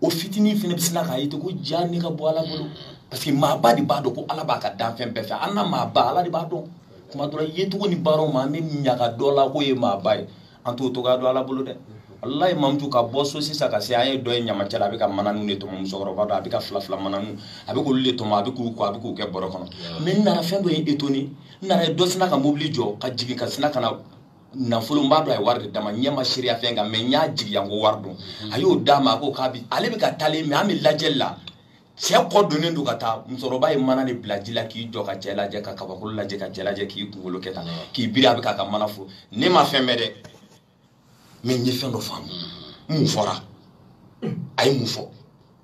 o fitinin fana bɛ sina k'a ye ten ko ja ne ka bon ala bolo parce que maaba de b'a dɔn ko ala b'a ka danfɛn bɛɛ fɛ an na maaba ala de b'a dɔn tuma dɔ la yecogo ni baaraw ma an bɛ ɲaga dɔ la k'o ye maaba ye an t'o dɔgɔya dɔn ala bolo dɛ walayi mamutu ka bɔ so sisan ka se an ye dɔ ye ɲamacɛla a bɛ ka mananu de tɔmɔ musokɔrɔba dɔ a bɛ ka fila fila mananu a bɛ k'olu de tɔmɔ a bɛ k'u kɔ a bɛ k'u kɛ bɔrɔ kɔnɔ mais n nana fɛn dɔ ye étonné n nana ye dɔ sina ka mobili jɔ ka jigin ka sina ka na nafolo b'a dɔn a ye wari de d'a ma ɲɛ ma seereya fɛn kan mais n y'a jigiya ko wari don a y'o d'a ma a ko kabi ale bɛ ka taalen mɛ an bɛ lajɛli la cɛ kɔ donnen don ka taa musokɔrɔba ye mana de bila ji la k'i jɔ ka cɛ lajɛ ka kabakolo lajɛ ka cɛ lajɛ k'i kunkolo kɛ tan k'i biri a bɛ k'a ka mana fo ne ma fɛn mɛn dɛ mais n ye fɛn dɔ faamu mun fɔra a ye mun fɔ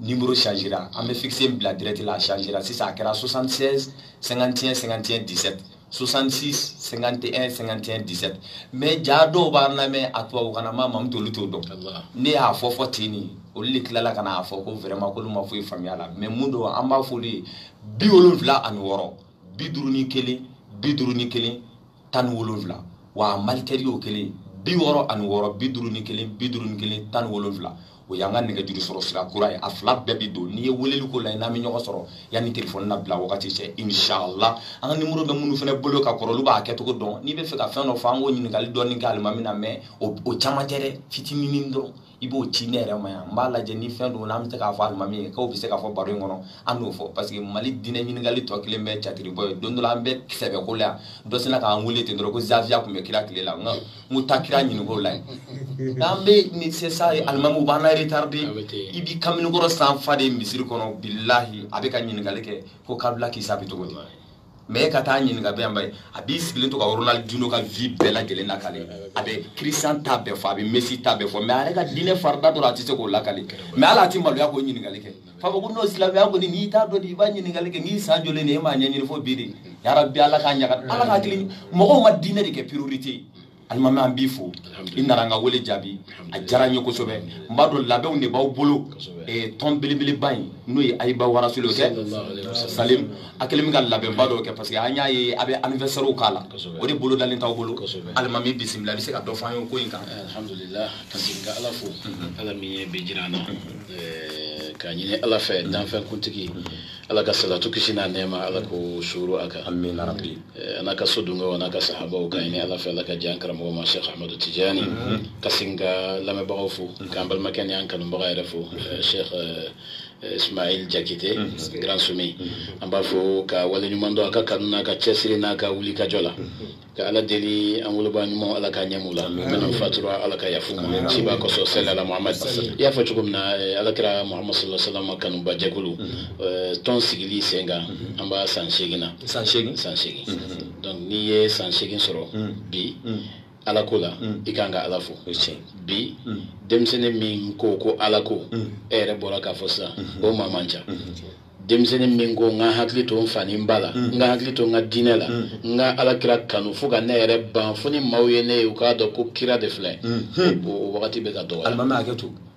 nimoro changera an bɛ fixe bila direct la a changera sisan a kɛra 76 51 51 17 66 51 51 17 mais ja dɔw b'an lamɛn a tubabukan na ma mamut'olu t'o dɔn n'i y'a fɔ fɔ ten nin olu de tilala ka n'a fɔ ko vraiment k'olu ma foyi faamuya la mais mun don an b'a f'olu ye bi wolonwula ani wɔɔrɔ bi duuru ni kelen bi duuru ni kelen tan ni wolonwula wa a malitel y'o kelen bi wɔɔrɔ ani wɔɔrɔ bi duuru ni kelen bi duuru ni kelen tan ni wolonwula o y'an ka nɛgɛjuru sɔrɔ sira kura ye a fila bɛɛ bɛ don n'i ye weleli k'o la i n'an bɛ ɲɔgɔn sɔrɔ yanni telefɔni labila wagati cɛ inshallah an ka nimoro bɛ minnu fana bolo ka kɔrɔ olu b'a kɛcogo dɔn n'i bɛ fɛ ka fɛn dɔ fɔ an k'o ɲininkali dɔɔni kɛ alimami na mais o caman tɛ dɛ fitinin dɔrɔn i b'o ci ne yɛrɛ ma yan n b'a lajɛ ni fɛn don n'an bɛ se k'a fɔ alimami ye k'o bɛ se k'a fɔ baro in kɔnɔ an n'o fɔ parce que mali diinɛ ɲininkali tɔ kɛlen bɛ catiribɔ ye don dɔ la an bɛ sɛbɛ ko la yan dɔ sinna k'an wele ten dɔrɔn ko zawiya tun bɛ kira tile la n ko taa kira ɲinink'o la yen n'an bɛ ni c'est ça alimamiw b'an laretaride i bɛ kamalenkɔrɔ sanfa de misiri kɔnɔ bilahi a bɛ ka ɲininkali kɛ ko kabila k'i sa bɛ cogo di mais e ka taa ɲininka bɛ yanba ye a b'i sigilen to ka ronaldinho ka vie bɛɛ lajɛlen lakale a bɛ christian ta bɛɛ fɔ a bɛ messi ta bɛɛ fɔ mais a yɛrɛ ka diinɛ farida dɔrɔn a tɛ se k'o lakale mais ala a tɛ maloya k'o ɲininkali kɛ fa fɔ ko n'o silamɛya kɔni n'i t'a dɔn de i b'a ɲininkali kɛ n'i san joli de e m'a ɲɛɲini fo bi de yarabi ala k'a ɲaga ala ka hakili mɔgɔw ma diinɛ de kɛ priorité ye alimami an b'i fo i nana an ka wele jaabi a diyara n ye kosɛbɛ n b'a dɔn labɛnw de b'aw bolo eh, tɔn belebeleba in n'o ye ayiba warasulu kɛ salim a kɛlen bɛ ka labɛnba dɔw kɛ parce que an y'a ye a bɛ anniversaire k'a la o de bolodalen d'aw bolo alimami bisimila i bɛ se ka dɔ fɔ an ye ko in kan eh, alhamdulillah ka segin ka ala fo mhm. ala min ye bi jira an na mhm. eh, k'a ɲini ala fɛ danfɛnkuntigi mhm. ala ka salatu kisi n'a nɛɛma ala k'o suuru a kan amina rabi eh, a n'a ka so dungew a n'a ka sahabaw ka ɲini ala fɛ ala ka jɛn an karamɔgɔ ma shekh ahmadu tijani ka sin ka lamɛnbagaw fo k'an balimakɛ ni an kanubaga yɛrɛ fo eh, shekh eh, Eh, ismail jakite mm-hmm. grand sumi mm-hmm. an b'a fo k'a waleɲuman dɔn a ka kanu n'a ka cɛsiri n'a ka wulikajɔ la mm-hmm. ka ala deli an woloba ɲuman ala ka ɲɛmu la minnu fatura ala ka yaf'u ma ciba kosɔn salala muhamad i y'a fɔ cogo min na eh, ala kira muhamad sallallahu alaihi wasallam kanuba jɛkulu eh, tɔn sigili sen kan an b'a san seegin na san seegin san seegin donc n'i ye san seegin sɔrɔ bi ala ko la i kan ka ala fo bi denmisɛnnin min ko ko ala ko e yɛrɛ bɔra k'a fɔ sisan o maa man ca denmisɛnnin min ko n ka hakili to n fa ni n ba la n ka hakili to n ka diinɛ la n ka ala kira kanu fo ka ne yɛrɛ ban fo ni maaw ye ne ye u k'a dɔn ko kira de filɛ o wagati bɛ ka dɔgɔya alimami hakɛ to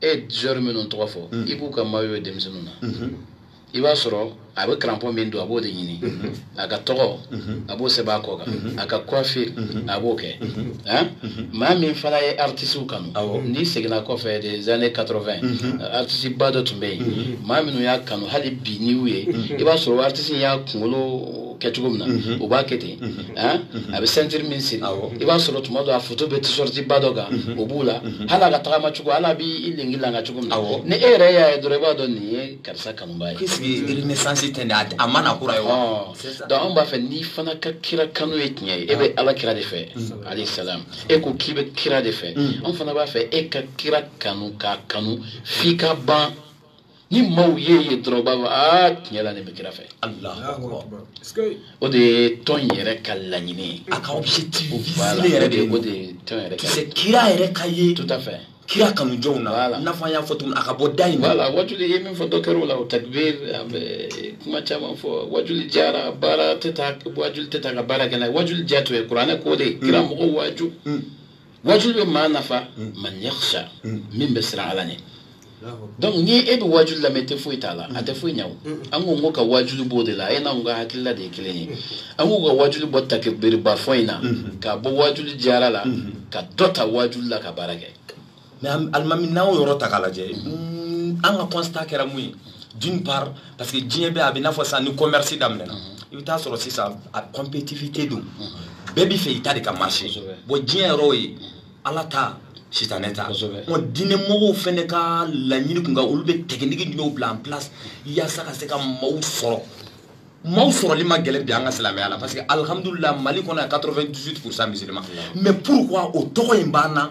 e joueur minnu tɔgɔ fɔ mm. i b'u ka maillot ye denmisɛnninw na mm-hmm. i b'a sɔrɔ a bɛ crampon min don a b'o de ɲini mm-hmm. a ka tɔgɔ mm-hmm. a b'o sɛbɛn a kɔ kan a ka coiffure a b'o kɛ maa min fana ye artistew kanu n'i seginna kɔfɛ des années 80 artiste ba dɔ tun bɛ yen maa minnu y'a kanu hali bi n'i y'u ye i b'a sɔrɔ artiste y'a kunkolo kɛ cogo min na u b'a kɛ ten a bɛ sɛntiri min siri i b'a sɔrɔ tuma dɔ a foto bɛ t-shirt ba dɔ kan o b'u la hali a ka tagama cogo hali a b'i lengelanga cogo min na ni e yɛrɛ y'a ye dɔrɔn i b'a dɔn nin ye karisa kanuba ye puisque renaissance tɛ nin a ma na kura ye wa donc anw b'a fɛ n'i fana ka kira kanu ye tiɲɛ ye e bɛ ala kira de fɛ alayhi salam e ko k'i bɛ kira de fɛ anw fana b'a fɛ e ka kira kanu k'a kanu f'i ka ban ni maaw y'i ye dɔrɔn u b'a fɔ aa tiɲɛ la nin bɛ kira fɛ o de ye tɔn yɛrɛ ka laɲini ye a ka objectif visé yɛrɛ de ye o de ye tɔn yɛrɛ ka c'est kira yɛrɛ ka ye tout à fait kira kanujɔnw na i n'a fɔ an y'a fɔ tuguni a ka bɔ da in na voilà wajuli ye min fɔ dɔ kɛra o la o takbir an bɛ kuma caman fɔ wajuli diyara baara tɛ ta wajuli tɛ ta ka baara kɛ n'a ye wajuli diya tun ye kuranɛ ko de kira mɔgɔw waju wajuli bɛ maa nafa man yakhsha min bɛ siran ala ɲɛ donc ni e bɛ wajuli lamɛn i tɛ foyi ta a la a tɛ foyi ɲɛ o an ko n ko ka wajuli bɔ o de la e n'anw ka hakilila de ye kelen ye an ko an ka wajuli bɔ takibiriba fɔ in na k'a bɔ wajuli diyara la ka dɔ ta wajuli la ka baara kɛ mais alimami n'an y'o yɔrɔ ta k'a lajɛ an ka constat kɛra mun ye d'une part parce que diɲɛ bɛɛ a bɛ i n'a fɔ sisan ni commerce daminɛna i bɛ taa sɔrɔ sisan a compétitivité don bɛɛ b'i fɛ i ta de ka marché bon diɲɛ yɔrɔ ye ala ta sitanɛ ta ɔ diinɛ mɔgɔw fɛnɛ ka laɲini kunkan olu bɛ technique jumɛnw bila en place yaasa ka se ka maaw sɔrɔ maaw sɔrɔli man gɛlɛn bi an ka silamɛya la parce que alihamudulila mali kɔnɔ yan 98 pourcent musulman mais pourquoi o tɔgɔ in b'an na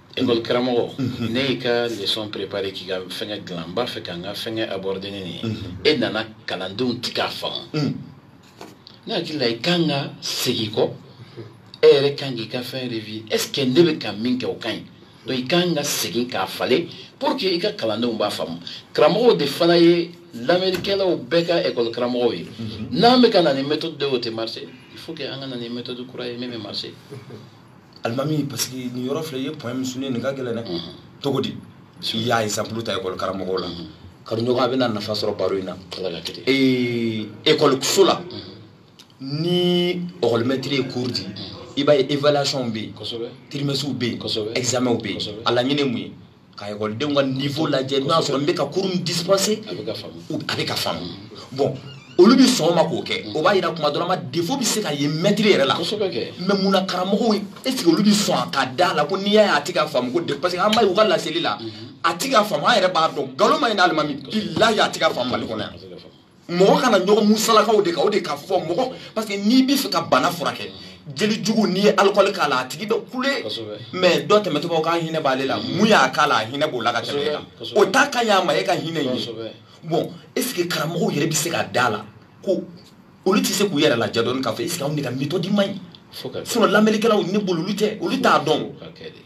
ekɔli karamɔgɔ n'e y'i ka leçon préparé k'i ka fɛngɛ dilan n b'a fɛ ka n ka fɛngɛ aborder ni nin ye e nana kalandenw ti k'a faamu ne hakili la i kan ka segin kɔ e yɛrɛ kan k'i ka fɛn revue est ce que ne bɛ ka min kɛ o ka ɲi donc i kan ka segin k'a falen pour que i ka kalandenw b'a faamu karamɔgɔw de fana ye lamɛnnikɛlaw bɛɛ ka ekɔli karamɔgɔw ye n'an bɛ ka na ni méthode dɔ ye o tɛ marché il faut que an ka na ni méthode kura ye min bɛ marché alimami parce que nin yɔrɔ filɛ i ye point min souligner nin ka gɛlɛn dɛ mhm. cogo di i y'a exemple ta école karamɔgɔw la mhm. kanuɲɔgɔn a bɛna nafa sɔrɔ baro in na ekɔliso la mhm. ni ekɔlimɛtiri ye cours di i b'a ye évaluation bɛ yen trimestres bɛ yen examens bɛ yen a laɲini ye mun ye ka ekɔlidenw ka nivo lajɛ n'o y'a sɔrɔ n bɛ ka cours min dispensé a bɛ ka faamu bon olu bɛ sɔn o ma k'o kɛ o b'a yira kuma dɔ la ma défaut bɛ se ka ye mɛtiri yɛrɛ la mais mun na karamɔgɔw est ce que olu bɛ sɔn a ka da la ko n'i y'a ye a ti ka faamu ko de parce que an b'a ye u ka laseli la a ti ka faamu an yɛrɛ b'a dɔn nkalon man ɲi n'alimami bilayi a ti ka faamu mali kɔnɔ yan mɔgɔ kana ɲɔgɔn musalaka o de kan o de ka fɔ mɔgɔ parce que n'i bɛ fɛ ka bana furakɛ jeli jugu n'i ye alikɔli k'a la a tigi bɛ kule mais dɔ tɛmɛtɔ b'a fɔ k'a hinɛ b'ale la min y'a k'a la a hinɛ b'o la ka tɛmɛ e kan o t'a ka y'a ma e ka hinɛ in ye bon est ce que karamɔgɔw yɛrɛ bɛ se ka da la ko olu tɛ se k'u yɛrɛ lajɛ dɔɔni k'a fɔ est ce que anw de ka méthode man ɲi sinon lamɛnnikɛlaw ne bolo olu tɛ olu t'a dɔn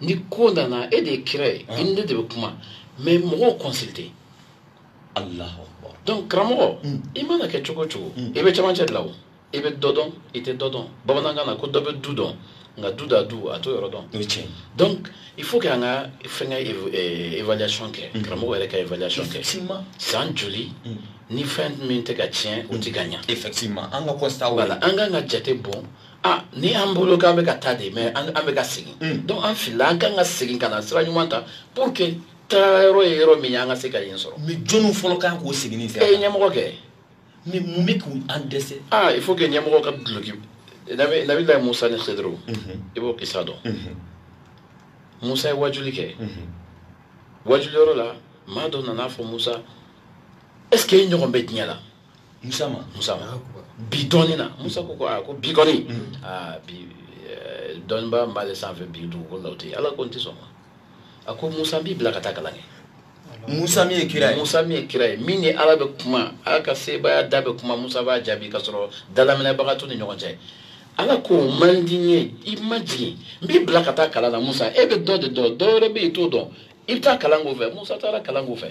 ni ko nana e de ye kira ye i ni ne de bɛ kuma mais mɔgɔw consulter alahu akbar donc karamɔgɔ i mana kɛ cogo o cogo i bɛ camancɛ de la o i bɛ dɔ dɔn i tɛ dɔ dɔn bamanankan na ko dɔ bɛ du dɔn nka du da dun a t'o yɔrɔ dɔn o ye tiɲɛ donc il faut que an ka fɛnkɛ évaluation kɛ karamɔgɔ yɛrɛ ka évaluation kɛ effectivement san joli ni fɛn min tɛ ka tiɲɛ o tɛ ka ɲa effectivement an ka constat voilà an ka kan ka jate bɔ ah ni an bolo k'an bɛ ka taa de mais an bɛ ka segin mm. donc an filila an kan ka segin ka na sira ɲuman ta pour que taara yɔrɔ ye yɔrɔ min ye an ka se ka yen sɔrɔ mais jɔni fɔlɔ kan k'o seginni sira e ye ɲɛmɔgɔ kɛ mais mun bɛ k'u an dɛsɛ ah il faut que ɲɛmɔgɔ ka duloki nabi nabilayi musa ni khidru mhm. i b'o kisa dɔn mhm. musa ye wajuli kɛ mhm. wajuli yɔrɔ la maa dɔ nana a fɔ musa est ce que e ɲɔgɔn bɛ diɲɛ la musa ma musa ma bi dɔɔni na musa ko ko aa ko bi kɔni aa bi dɔnniba min b'ale sanfɛ bi dugukolo la o tɛ ala ko n tɛ sɔn ma a ko musa n b'i bila ka taa kalan kɛ musa min ye kira ye musa min ye kira ye min ni ala bɛ kuma ala ka sebaaya da bɛ kuma musa b'a jaabi ka sɔrɔ dalaminɛbaga t'u ni ɲɔgɔn cɛ ala k'o man di n ye i majigin n b'i bila ka taa kalan na musa e bɛ dɔ de dɔn dɔ wɛrɛ bɛ yen i t'o dɔn i bɛ taa kalan k'o fɛ musa taara kalan k'o fɛ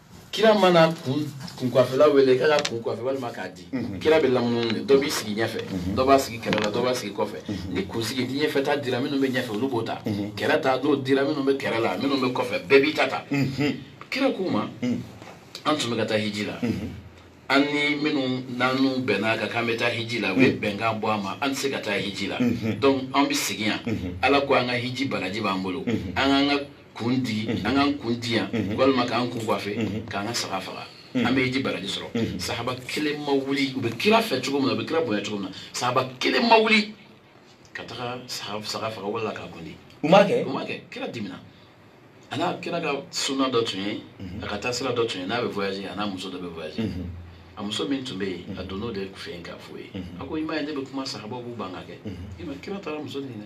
kira mana kunkwafela wele k'a ka kun coiffer walima k'a di mhm. kira bɛ lamunumunu de dɔ b'i sigi ɲɛfɛ mhm. dɔ b'a sigi kɛrɛ la dɔ b'a sigi kɔfɛ mhm. ni kunsigi ni ɲɛfɛ ta dira minnu bɛ ɲɛfɛ olu b'o ta kɛrɛ ta n'o dira minnu bɛ kɛrɛ la minnu bɛ kɔfɛ bɛɛ b'i ta ta kira k'u ma an tun bɛ ka taa hiji la an ni minnu n'an bɛnna kan k'an bɛ taa hiji la u ye bɛnkan bɔ an ma an tɛ se ka taa hiji la donc an bɛ segin yan ala ko an ka hiji baraji b'an bolo an k'an ka kun di an k'an kun di yan walima k'an kun coiffer k'an ka saga faga an bɛ hiji baraji sɔrɔ sahaba kelen ma wuli u bɛ kira fɛ cogo min na u bɛ kira bonya cogo min na sahaba kelen ma wuli ka taga saga faga wala k'a kun di u m'a kɛ u m'a kɛ kira dimina a n'a kira ka suna dɔ tun ye a ka taa sira dɔ tun ye n'a bɛ voyager a n'a muso dɔ bɛ voyager a muso min tun bɛ yen a donn'o de fɛ yen k'a fɔ ye a ko i m'a ye ne bɛ kuma sahabaw b'u ban k'a kɛ i ma kira taara muso nin na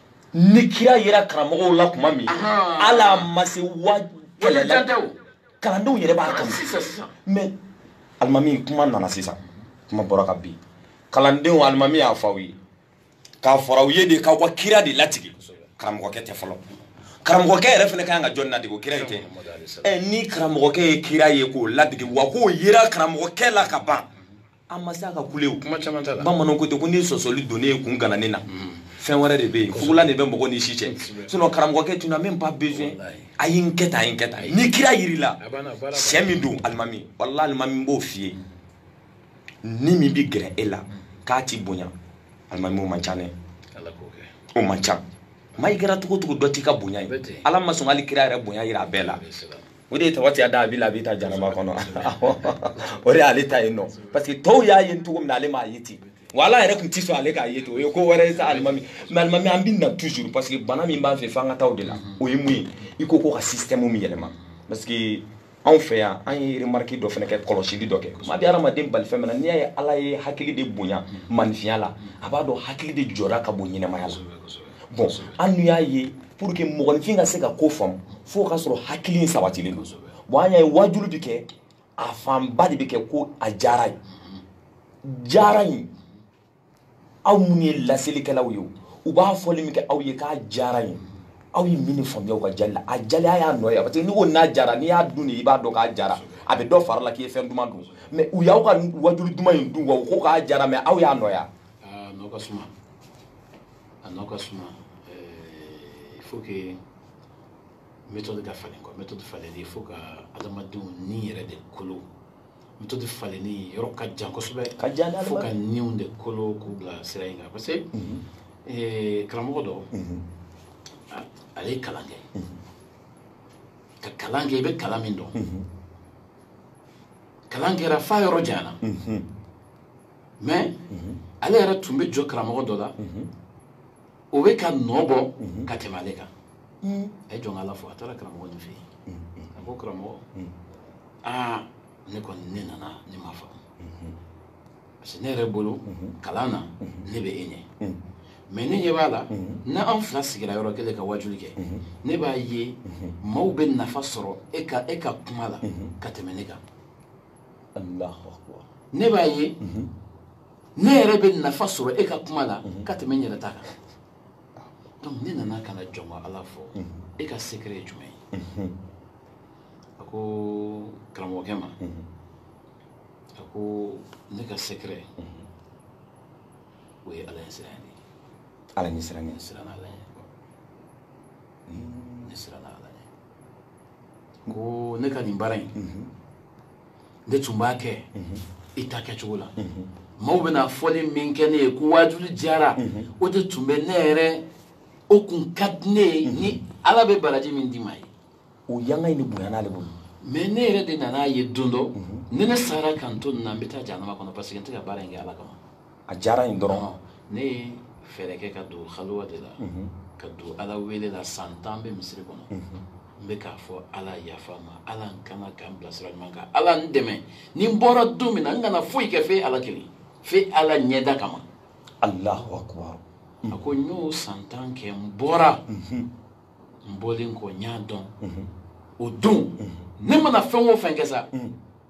ni kira yera karamɔgɔw la tuma min ala ma se wa kalandenw yɛrɛ b'a kanu mais alimami kuma nana sisan kuma bɔra ka bin kalandenw alimami y'a fɔ aw ye k'a fɔra aw ye de k'aw ka kira de ladege karamɔgɔkɛ tɛ fɔlɔ karamɔgɔkɛ yɛrɛ fana ka kan ka jɔn ladege o kira in tɛ ɛ ni karamɔgɔkɛ ye kira ye k'o ladege wa k'o yera karamɔgɔkɛ la ka ban an ma se a ka kule o kuma caman t'a la bamananw ko ten ko ni sɔsɔli donnen ye kun gananen na mm. fɛn wɛrɛ de bɛ yen fugulan de bɛ mɔgɔ ni si cɛ sinon karamɔgɔkɛ tu n'as même pas besoin a ye n kɛ tan a ye n kɛ tan ni kira yer'i la sɛ min don alimami walahi alimami b'o f'i ye ni min bɛ gɛrɛ e la k'a t'i bonya alimami o man ca dɛ o man ca maa i kɛra cogo o cogo dɔ t'i ka bonya ye ala ma sɔn hali kira yɛrɛ bonya yira a bɛɛ la o de ye tabati yada abi lahabi ta jahanama kɔnɔ o de y'ale ta yen nɔ parce que tɔw y'a ye cogo min na ale m'a ye ten wa ala yɛrɛ tun tɛ sɔn ale k'a ye ten o ye ko wɛrɛ ye sa alimami mais alimami an bɛ na toujours parce que bana min b'an fɛ f'an ka taa o de la o ye mun ye i ko ko ka système min yɛlɛma parce que anw fɛ yan an ye remarque dɔ fana kɛ kɔlɔsili dɔ kɛ maa bɛ hadamaden bali fɛn min na n'i y'a ye ala ye hakili de bonya maninfinya la a b'a dɔn hakili de jɔyɔrɔ ka bon ɲɛnamaya la bon an n'u y'a ye pour que mɔgɔninfin ka se ka ko faamu fo ka sɔrɔ hakili in sabatilen don bon an y'a ye waajulu bɛ kɛ a fanba de bɛ kɛ ko a diyara ye diyara ye aw minnu ye laselikɛlaw ye o u b'a fɔli min kɛ aw ye k'a diyara ye aw ye mun faamuya aw ka diyali la a diyali a y'a nɔ ye parce que n'i ko na diyara n'i y'a dun de i b'a dɔn k'a diyara a bɛ dɔ far'i la k'i ye fɛn duman dun mais u y'aw ka waajulu duman in dun wa u ko k'a diyara mais aw y'a nɔ ye ah, a nɔ ka suma il faut que méthode ka falen quoi méthode falenni il faut ka adamadenw ni yɛrɛ de kolo méthode falenni yɔrɔ ka jan kosɛbɛ ka jan fo ka niw de kolo k'u bila sira in kan parce que mhm. karamɔgɔ dɔ mhm. ale ye kalan kɛ mhm. ka kalan kɛ i bɛ kalan min dɔn kalan kɛra f'a yɔrɔ janyana mais ale yɛrɛ tun bɛ jɔ karamɔgɔ dɔ la o bɛ ka nɔ bɔ ka tɛmɛ ale kan a ye jɔn ko ala fɔ a taara karamɔgɔ nin fɛ yen a ko karamɔgɔ aa ne kɔni ne nana ne ma faamu parce que ne yɛrɛ bolo kalan na ne bɛ e ɲɛ mais ne ɲɛ b'a la ni an fila sigira yɔrɔ kelen ka wajuli kɛ ne b'a ye maaw bɛ nafa sɔrɔ e ka e ka kuma la ka tɛmɛ ne kan ne b'a ye mhm. ne yɛrɛ bɛ nafa sɔrɔ e ka kuma la mhm. ka tɛmɛ n yɛrɛ ta kan donc ne nana ka na jɔn ko ala fɔ mhm. e ka secret ye jumɛn ye a ko karamɔgɔkɛ ma a ko ne ka secret o ye ala ɲɛsiran de ye ala ɲɛsiran ye siran ala ɲɛ ne siran ala ɲɛ ko ne ka nin baara in ne tun b'a kɛ i ta kɛcogo la maaw bɛna fɔli min kɛ ne ye ko waajuli diyara o de tun bɛ ne yɛrɛ o tun ka di ne ye ni ala bɛ baraji min d'i ma ye o yanga in de bonyana ale bolo mais ne yɛrɛ de nana a ye don dɔ ni ne sara ka n to nin na n bɛ taa jahanama kɔnɔ parce que n tɛ ka baara in kɛ ala kama a diyara in dɔrɔn ne ye fɛɛrɛ kɛ ka don haliwa de la ka don ala wele la san tan n bɛ misiri kɔnɔ n bɛ k'a fɔ ala yafa n ma ala n kana ka n bila sira ɲuman kan ala n dɛmɛ ni n bɔra don min na n kana foyi kɛ f'e ala kelen f'e ala ɲɛda kama alahu akubar a ko n y'o san tan kɛ n bɔra n bɔlen kɔ n y'a dɔn o don ne mana fɛn o fɛn kɛ sa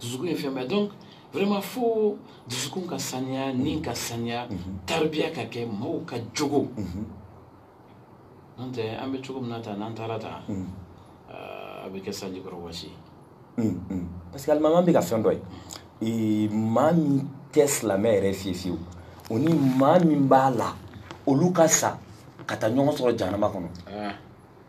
dusukun ye fɛn bɛɛ ye donc vraiment fo dusukun ka saniya ni ka saniya taribiya ka kɛ maaw ka jogo n'o tɛ an bɛ cogo min na tan n'an taara tan a bɛ kɛ sanji kɔrɔ wɔsi parce que alimami bɛ ka fɛn dɔ ye maa min tɛ silamɛ yɛrɛ fiye fiyewu o ni maa min b'a la olu ka sa ka taa ɲɔgɔn sɔrɔ jahanama kɔnɔ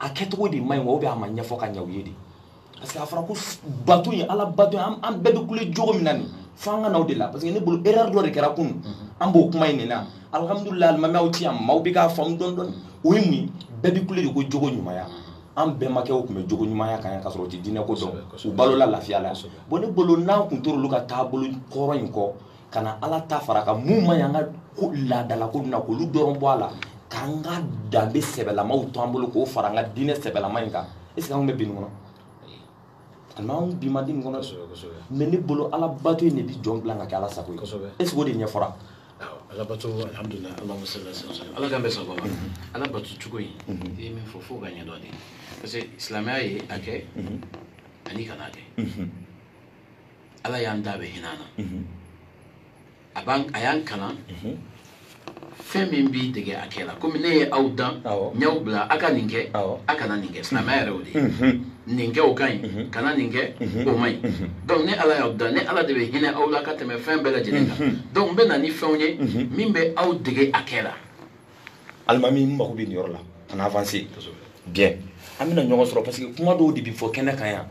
a kɛcogo de man ɲi wa ou bien a ma ɲɛfɔ ka ɲɛ u ye de parce que a fɔra ko bato ye ala bato ye an bɛɛ bɛ kule jogo min na nin fo an ka na o de la parce que ne bolo erreur dɔ de kɛra kunun mhm. an b'o kuma in de la alhamdulilayi alimami aw ti yan maaw bɛ k'a faamu dɔɔni dɔɔni o ye mun ye bɛɛ bɛ kule de ko jogo ɲumanya mhm. an bɛnbakɛw tun bɛ jogo ɲumanya kan yan ka sɔrɔ u tɛ diinɛ ko dɔn u balola lafiya la bon ne bolo n'an tun tor'olu ka taabolo kɔrɔ in kɔ ka na ala ta fara a kan min man ɲi an ka laadalako na k'olu dɔrɔn bɔ a la k'an ka danbe sɛbɛlamaw to an bolo k'o fara an ka diinɛ sɛbɛlama in kan est ce que anw bɛ bin kɔnɔ alima anw bin man di nin kɔnɔ mais ne bolo ala bato in de bi jɔn bila ka kɛ ala sago ye est ce que o de ɲɛfɔra ala bato alhamdulila allahumma salli wa sallim ala k'an bɛn a sago ma ala bato cogo in i ye min fɔ fo k'a ɲɛdɔn de parce que silamɛya ye a kɛ ani kana a kɛ ala y'an da a bɛ hinɛ an na a b'an a y'an kalan fɛn min b'i dege a kɛ la komi ne ye aw dan Awɔ. n y'aw bila a ka nin kɛ Awɔ. a kana nin kɛ silamɛya yɛrɛ o de ye nin kɛ o ka ɲi kana nin kɛ o man ɲi donc ne ala y'aw dan ne ala de bɛ hinɛ aw la ka tɛmɛ fɛn bɛɛ lajɛlen kan donc n bɛ na ni fɛnw ye min bɛ aw dege a kɛ la alimami n mago bɛ nin yɔrɔ la kana avancer bien an bɛna ɲɔgɔn sɔrɔ parce que kuma dɔw de bɛ fɔ kɛnɛ kan yan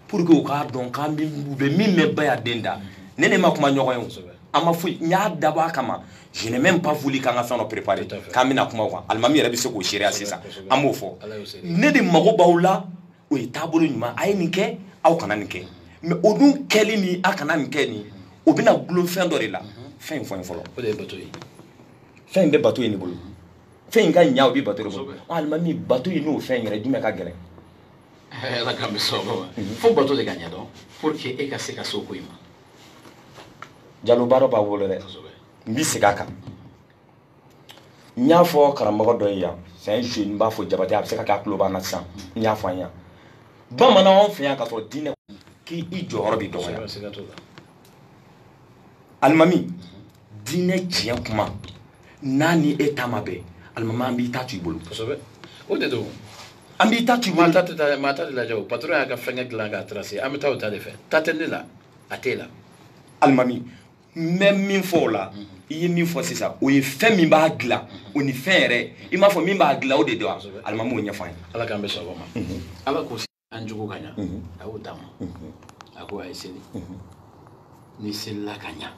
pour que u k'a dɔn k'an bɛ u bɛ min mɛn ba y'a den da ne n'e ma kuma ɲɔgɔn ye o an ma foyi n y'a dabɔ a kama je n'ai même pas voulu k'an ka fɛn dɔ préparer k'an bɛna kuma o kan alimami yɛrɛ bɛ se k'o seereya sisan an b'o fɔ ne de mago b'aw la o ye taabolo ɲuman a ye nin kɛ aw kana nin kɛ mais o dun kɛli ni a kana nin kɛ nin o bɛna gulon fɛn dɔ de la fɛn in fɔlɔ fɔlɔ o de ye bato ye fɛn in bɛ bato ye ne bolo fɛn in ka ɲa o bɛ bato de bolo alimami bato ye n'o fɛn yɛrɛ jumɛn ka gɛlɛn ala k'an bɛn a sago ma fo bato de ka ɲɛ dɔn pour que e ka se ka so ko in ma jalo baara b'a bolo dɛ n bi segin a kan n y'a fɔ karamɔgɔ dɔ ye yan c'est un jeune n b'a fɔ jabate a bɛ se ka kɛ a tulo b'an na sisan n y'a fɔ an yan bamanan anw fɛ yan k'a sɔrɔ diinɛ k'i jɔyɔrɔ bɛ dɔgɔya alimami diinɛ tiɲɛ kuma n'a ni e ta ma bɛn alimami an b'i ta to i bolo o de don an b'i ta to i bolo maa ta tɛ taa maa ta tɛ lajɛ o patron y'a ka fɛngɛ dilan k'a tracer an bɛ taa o ta de fɛ ta tɛ ne la a t'e la alimami n bɛ min fɔ o la i ye min fɔ sisan o ye fɛn min b'a dilan o ni fɛn yɛrɛ i m'a fɔ min b'a dilan o de don alimami o ɲɛfɔ an ye ala k'an bɛn a sago ma ala ko an jogo ka ɲa a y'o d'a ma a ko a ye seli n'i selila ka ɲa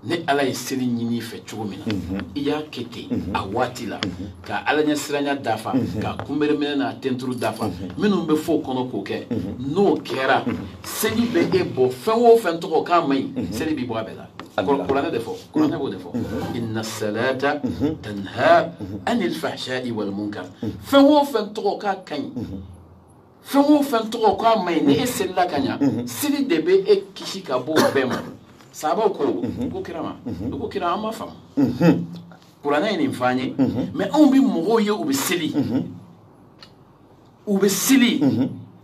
ni ala ye seli ɲini i fɛ cogo min na mhm. i y'a kɛ ten mhm. a waati la mhm. ka ala ɲɛ siranya dafa k'a kunbereminɛ n'a tenturu dafa minnu bɛ fɔ o kɔnɔ k'o kɛ n'o kɛra seli bɛ e bɔ fɛn o fɛn tɔgɔ k'a man ɲi seli b'i bɔ a bɛɛ la kuranɛ de fɔ kuranɛ b'o de fɔ inna salata tanha anil fahsha'i wal munkar fɛn o fɛn tɔgɔ k'a ka ɲi fɛn o fɛn tɔgɔ ko a man ɲi ni e selila ka ɲa mhm. seli de bɛ e kisi ka bɔ o bɛɛ ma sabaw ko mhm. ko kira ma mhm. ko kira an ma faamu kuranɛ ye nin fɔ an ye mais anw bɛ mɔgɔw ye u bɛ seli u bɛ seli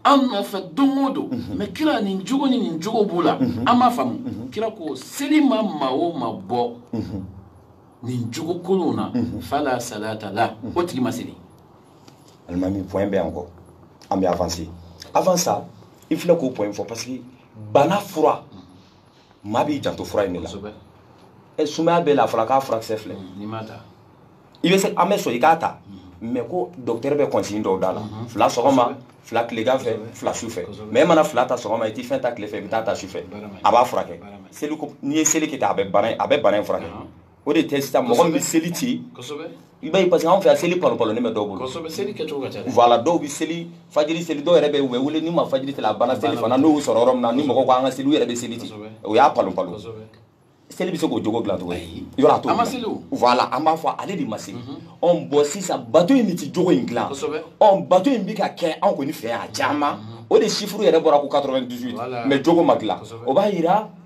an nɔfɛ don o don mais kira nin jogo ni nin jogo b'u la an ma faamu kira ko seli ma maa o maa bɔ nin jogo kolonw na fala salata la o tigi ma seli alimami point bɛ an kɔ an bɛ avancer avant ça i filɛ k'o point fɔ parce que bana fura maa b'i janto fura in de la ɛ sumaya b'i la a fɔra k'a furakisɛ filɛ i bɛ se an bɛ sɔn i k'a ta mais mm. ko docteur bɛ consigne dɔw d'a la mm-hmm. fila sɔgɔma fila tilegan fɛ fila su fɛ mais e mana fila ta sɔgɔma i tɛ fɛn ta tile fɛ i bɛ taa ta su fɛ a b'a furakɛ seli n'i ye seli kɛ ten a bɛ bana in furakɛ o de tɛ sisan mɔgɔ min bɛ seli ci i b'a ye parce que anw fɛ yan seli palopalonin bɛ dɔw bolo voilà dɔw bɛ seli fajiri seli dɔw yɛrɛ bɛ u bɛ wele n'u ma fajiri seli a banna selifana n'u y'u sɔrɔ yɔrɔ min na ni mɔgɔw ko an ka seli u yɛrɛ bɛ seli ci o y'a palopalo seli bɛ se k'o jogo dilan cogo ye yɔrɔ a t'o dilan voilà an b'a fɔ ale de ma seli ɔ bon sisan bato in de tɛ jogo in dilan ɔ bato in bɛ ka kɛ anw kɔni fɛ yan a caman o de chiffre yɛrɛ bɔra ko 98 mais jogo ma dilan o b'a jira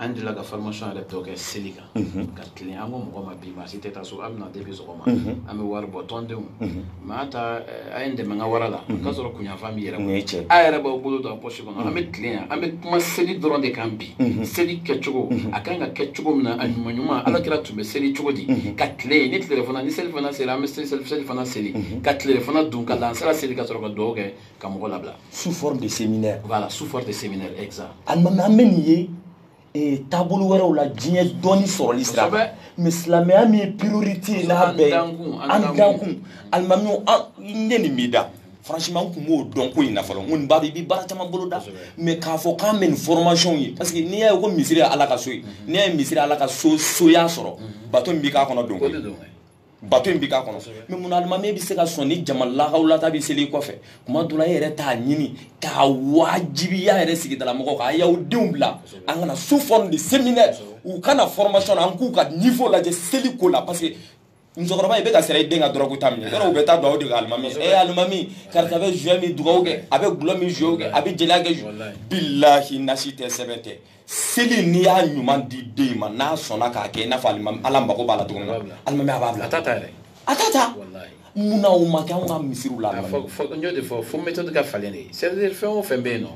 an delila ka formation yɛrɛ dɔ kɛ seli kan ka tilen an ko mɔgɔw ma bi maa si tɛ taa so an bɛ na depuis sɔgɔma an bɛ wari bɔ tɔndenw mais an ta eh, a ye n dɛmɛ n ka wara la k'a sɔrɔ kunyanfan b'i yɛrɛ bolo Nin ye tiɲɛ. a yɛrɛ b'aw bolo don a pɔsi kɔnɔ an bɛ tilen yan an bɛ kuma seli dɔrɔn de kan bi seli kɛcogo a kan ka kɛ cogo min na a ɲuman ɲuman ala kira tun bɛ seli cogo di ka tilen ni tilefana ni selifana seli an bɛ seli selifana seli ka tilefana dun ka lansara seli ka sɔrɔ ka dugawu kɛ ka mɔgɔ labila sous forme de séminaire voilà sous forme de séminaire exact alimami an bɛ nin ye ee taabolo wɛrɛw la diɲɛ dɔɔni sɔrɔli sira fɛ mais silamɛya min ye priorité ye n'a bɛɛ ye an dankun alimami n ye nin b'i da franchement n tun b'o dɔn ko in na fɔlɔ n kɔni b'a dɔn i bɛ baara caman boloda mais k'a fɔ k'an bɛ nin formation ye parce que n'i y'a ye ko misiri ye ala ka so ye n'i y'a ye misiri ye ala ka soya sɔrɔ bato min bɛ k'a kɔnɔ don koyi bato in bɛ k'a kɔnɔ mais mun na alimami bɛ se ka sɔn ni jama lakaw lata bɛ seli kɔfɛ kuma dɔ la e yɛrɛ t'a ɲini k'a wajibiya yɛrɛ sigidala mɔgɔw kan a y'aw denw bila an ka na sous forme de séminaire u ka na formation na an k'u ka niveau lajɛ seli ko la parce que musokɔrɔba i bɛ ka sera i den ka dɔrɔgu ta minɛ yɔrɔ u bɛ taa dugawu de kɛ alimami e alimami karisa bɛ joint min dugawu kɛ a bɛ dɔlɔ min dugawu kɛ a bɛ jɛnɛya kɛ bilahi nasi tɛ sɛbɛn tɛ seli n'i y'a ɲuman di den in ma n'a sɔnna k'a kɛ i n'a fɔ ala mago b'a la cogo min na alimami a b'a bila a t'a ta yɛrɛ a t'a ta mun na o ma kɛ anw ka misiriw la n y'o de fɔ fo méthode ka falen de c'est à dire fɛn o fɛn bɛ yen nɔ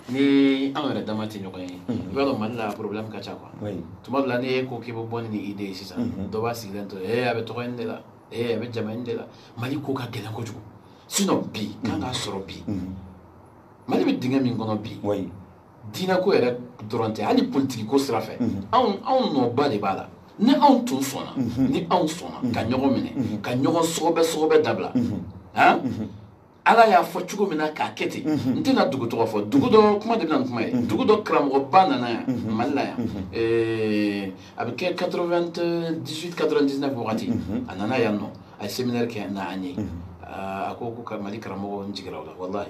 ni anw yɛrɛ dama tɛ ɲɔgɔn ye i b'a dɔn mali la problème ka ca quoi tuma dɔ la n'e ko k'i bɛ bɔ ni nin idée ye sisan dɔ b'a sigilen to ee a bɛ tɔgɔ in de la ee a bɛ jama in de la mali ko ka gɛlɛn kojugu sinon bi kan k'a sɔrɔ bi mali bɛ dingɛ min kɔnɔ bi diinɛko yɛrɛ dɔrɔn tɛ hali politikiko sira fɛ mhm. anw anw nɔba de b'a la ni anw tun sɔnna mhm. ni anw sɔnna mhm. ka ɲɔgɔn minɛ ka ɲɔgɔn sɔgɔbɛ sɔgɔbɛ dabila han ala y'a fɔ cogo min na k'a kɛ ten n tɛna dugu tɔgɔ fɔ dugu dɔ kuma de bɛna kuma ye dugu dɔ karamɔgɔba nana yan mali la yan a bɛ kɛ 98 99 wagati a nana yan nɔ a ye séminaire kɛ na an ye a ko ko ka mali karamɔgɔ n jigira o la walahi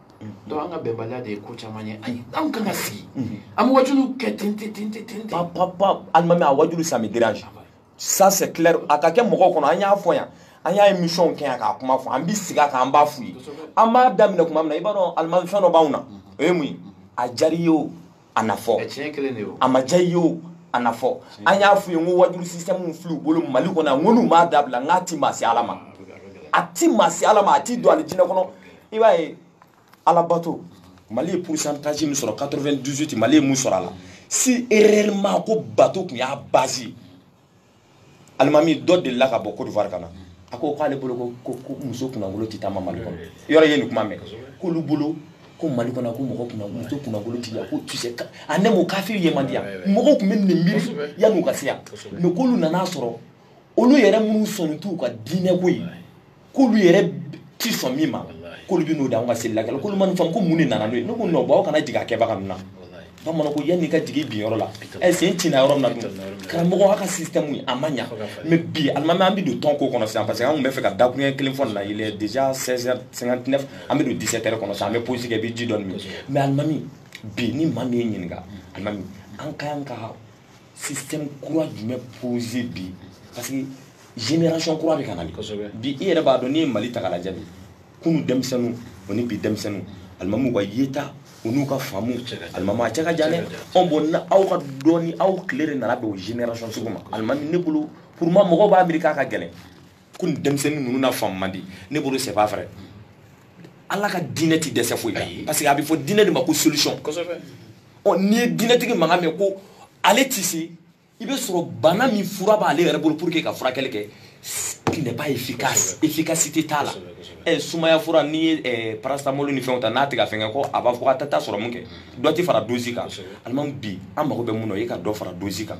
donc an ka bɛnbaliya de ye ko caman ye ayi anw kan ka sigi an bɛ wajulu kɛ ten ten ten ten ten pa pa pa alimami a wajulu ça me dérange ça c'est clair a ka kɛ mɔgɔw kɔnɔ an y'a fɔ yan an y'a émission kɛ yan k'a kuma fɔ an bɛ sigi a kan an b'a f'u ye an b'a daminɛ kuma min na i b'a dɔn alimami fɛn dɔ b'anw na o ye mun ye a diyar'i ye o an n'a fɔ a ma diya i ye o an n'a fɔ an y'a f'u ye n ko wajulu système filɛ u bolo mali kɔnɔ yan n ko n'u m'a dabila n k'a ti maa se ala ma a ti maa se ala ma a ti don alijinɛ kɔnɔ i b'a ye alabato mali ye pourcentage min sɔrɔ 98 mali ye mun sɔrɔ a la si réellement ko bato tun y'a base alimami dɔ delila ka bɔ côte d'ivoire ka na a ko k'ale bolo ko ko muso kunnakolon tɛ taama mali kɔnɔ yɔrɔ ye nin kuma mɛn k'olu bolo ko mali kɔnɔ ko mɔgɔ kunna muso kunnakolon tɛ yan ko kisɛ a ne m'o kafiri ye man di yan mɔgɔw tun bɛ nin miiri yanni u ka se yan mais k'olu nan'a sɔrɔ olu yɛrɛ minnu sɔnni t'u ka diinɛ ko ye k'olu yɛrɛ ti sɔn min ma k'olu bɛ n'o di anw ka seli lakɛla k'olu ma nin faamu ko mun de nana n'o ye ne ko non bon aw kana jigin a kɛbaga ninnu na bamananw ko yann'i ka jigin bin yɔrɔ la i sen tina yɔrɔ min na dun karamɔgɔ aw ka système ye a ma ɲa mais bi alimami an bɛ don tɔn ko kɔnɔ sisan parce que an tun bɛ fɛ ka dakuruɲɛ kelen fɔ nin na il est déjà 16h59 an bɛ don 17h kɔnɔ sisan an bɛ pause kɛ i bɛ ji dɔɔni min mais alimami bi ni maa min y'i ɲininka alimami an ka kan ka système kura jumɛn poser bi parce que génération kura de ka na bi bi i yɛrɛ b'a dɔn n'i ye mali ta k'a lajɛ bi kunu denmisɛnninw o ni bi denmisɛnninw alimami u ka yeta o n'u ka faamu alimami a cɛ ka jan dɛ ɔn bon na aw ka dɔɔni aw tile de nana bɛn o génération sugu ma alimami ne bolo pour moi mɔgɔw b'a miiri k'a ka gɛlɛn ko nin denmisɛnnin ninnu na faamu man di ne bolo c'est pas vrai ala ka diinɛ ti dɛsɛ foyi la parce que a bɛ fɔ diinɛ de ma ko solution ɔ n'i ye diinɛtigi mankan mɛn ko ale ti se i b'a sɔrɔ bana min fura b'ale yɛrɛ bolo pour que ka furakɛli kɛ qui n'est pas efficace efficacité t'a la ɛ sumaya fura n'i ye eh, paracetamol ni fɛnw ta n'a tɛ ka fɛn kɛ ko a b'a fɔ k'a tɛ taa sɔrɔmu kɛ dɔ tɛ fara dosi kan alimami bi an mago bɛ mun na o ye ka dɔ fara dosi kan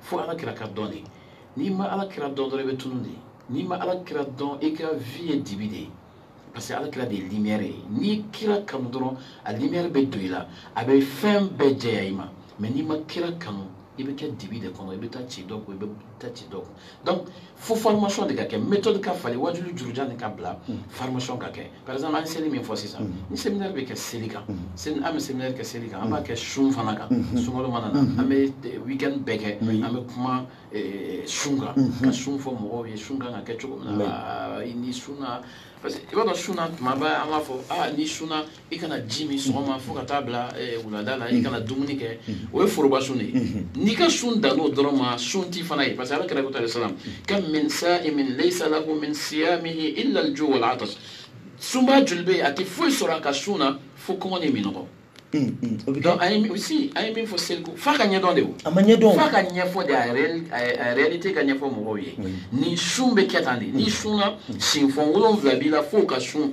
fo ala kira ka dɔn de n'i ma ala kira dɔn dɔrɔn i bɛ tunun de n'i ma ala kira dɔn i ka vie ye dibi de ye parce que ala kira de ye lumière ye n'i kira kanu dɔrɔn a lumière bɛ don i la a bɛ fɛn bɛɛ jɛya i ma mais n'i ma kira kanu i bɛ kɛ dibi de kɔnɔ i bɛ taa ci dɔ kun i bɛ taa ci dɔ kun donc fo formation de ka kɛ méthode ka falen wajulu jurujan de ka bila mm. formation ka kɛ par exemple an ye seli min fɔ sisan mm. ni séminaire bɛ kɛ seli kan mm. an bɛ séminaire kɛ seli kan an b'a kɛ sun fana kan mm-hmm. sunkalo mana na mm-hmm. an bɛ eh, week-end bɛɛ kɛ an bɛ kuma eh, sun kan mm-hmm. ka sun fɔ mɔgɔw ye sun kan ka kɛ cogo min na ah, n'i sunna parce que i b'a dɔn sun na tuma bɛɛ an b'a fɔ aa ah, n'i sunna i kana ji min sɔgɔma fo ka taa bila eh, wulada la i kana dumuni kɛ o ye foroba sun de ye n'i ka sun dann'o dɔrɔn ma sun ti fana ye parce que ala kira ko salam kam min sa'imin laysa lahu min siyamihi illa al-ju' wal 'atash sunbaa joli bɛ yen a tɛ foyi sɔrɔ a ka sun na fo kɔngɔ ni minɔgɔ donc a ye aussi a ye min fɔ seli ko f'a ka ɲɛdɔn de o a ma ɲɛdɔn f'a ka ɲɛfɔ de a réel- a- a réalité ka ɲɛfɔ mɔgɔw ye ni sun bɛ kɛ tan de n'i sunna sinfɔn wolonwula b'i la f'o ka sun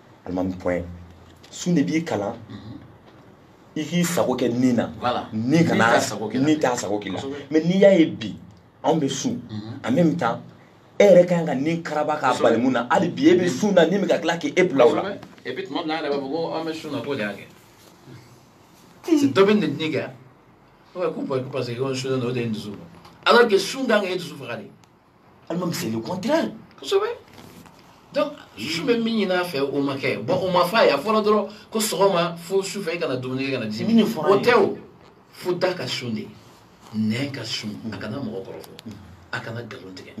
alimami point sun de b'i kalan i k'i sago kɛ ni na ni kana ni t'a sago k'i la mais n'i y'a ye bi anw bɛ sun en même temps e yɛrɛ ka kan ka ni karaba k'a bali mun na hali bi e bɛ sun na ni bɛ ka tila k'e bila o la dɔ bɛ nin kɛ ko parce que ko sun na o de ye dusu alors que sun kan ka e dusu faga de alimami c'est le contraire kosɛbɛ donc sun bɛ min ɲin'a fɛ o ma kɛ bon o ma fɔ a ye a fɔra dɔrɔn ko sɔgɔma fo su fɛ i kana dumuni kɛ kana ji min fɔra o tɛ o fo da ka sun de nɛn ka sun a kana mɔgɔ kɔrɔfɔ a kana nkalon tigɛ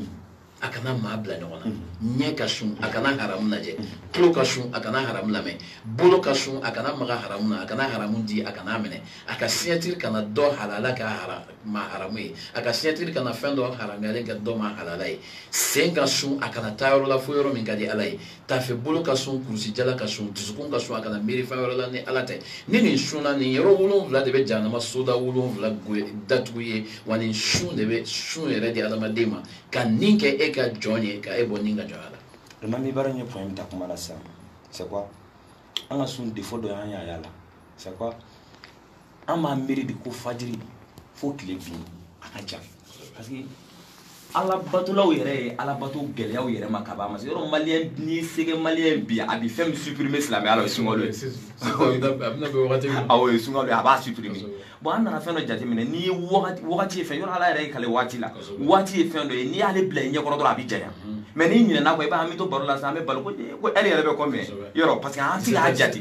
a kana maa bila ɲɔgɔn na mm-hmm. ɲɛ ka sun a kana haramu lajɛ mm-hmm. tulo ka sun a kana haramu lamɛn bolo ka sun a kana maga haramu na a kana haramu di a kan'a minɛ a ka signature kana dɔ halala k'a hara ma haramu ye a ka signature kana fɛn dɔ haramuyalen kɛ dɔ ma halala ye sen ka sun a kana taa yɔrɔ la fo yɔrɔ min ka di ala ye tafe bolo ka sun kurusijala ka sun dusukun ka sun a kana miiri fɛn wɛrɛ la ni ala tɛ ni nin sunna nin yɔrɔ wolonwula de bɛ jahanama soda wolonwula datugu i ye wa nin sun de bɛ sun yɛrɛ di adamaden ma ka ni kɛ e ka jɔn ye ka e bɔ ni ka jɔnya la. limami baara in ye point min ta kuma la sisan c'est quoi an ka sun défaut dɔ y'an y'a y'a la c'est quoi an b'a miiri de ko fajiri fo tile bin a ka jan parce que alabatolaw yɛrɛ ye ala bato gɛlɛyaw yɛrɛ ma ka ban parce que yɔrɔ maliyɛn ni sɛgɛ maliyɛn bi a bi fɛn min supprimer silamɛya la o ye sunkalo ye awɔ o ye sunkalo ye a b'a supprimer bon an nana fɛn dɔ jateminɛ n'i ye wagati wagati ye fɛn yɔrɔ ala yɛrɛ y'i kali waati la waati ye fɛn dɔ ye n'i y'ale bila i ɲɛkɔrɔ dɔrɔn a bɛ janya mais n'i ɲinɛna kɔ i b'a an bɛ to baro la sisan an bɛ balo ko ɛri yɛrɛ bɛ combien yɔrɔ parce que an ti k'a jate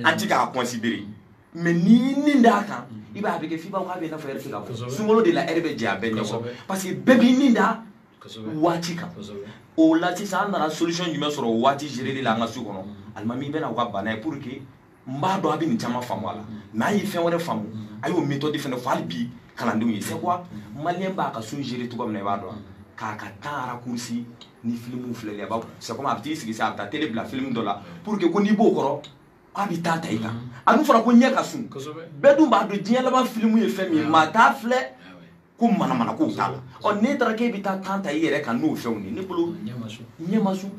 an ti k'a considérer mais n'i ni d'a kan i b'a bɛ kɛ f'i b'a fɔ k'a bɛ i n'a fɔ ɛri tɛ ka bɔ sunkalo de la ɛri bɛ jɛ a bɛɛ ɲɛkɔrɔ parce que bɛɛ b'i ni da waati kan o la sisan an nana solution jumɛn sɔrɔ o waati gereli la an ka sun kɔnɔ alimami bɛna u ka bana ye pour que n b'a dɔn a bɛ nin caman faamu a la mais an ye fɛn wɛrɛ faamu a y'o méthode fɛnɛ fɔ hali bi kalandenw ye c'est quoi maliyɛn b'a ka sun gérer cogo min na i b'a dɔn k'a ka temps raccourci ni filimu filɛli a b'a c'est comme a bɛ t'i sigi sisan a bɛ taa télé bila film dɔ la pour que ko n'i b'o kɔrɔ a bɛ temps ta i kan a dun fɔra ko ɲɛ ka sun bɛɛ dun b'a dɔn diɲɛ laban filimu ye fɛn min ye maa t'a filɛ ko manamana kow t'a la ɔ n'e taara k'e bɛ taa temps ta i yɛrɛ kan n'o fɛnw ye ne bolo ɲɛ ma sun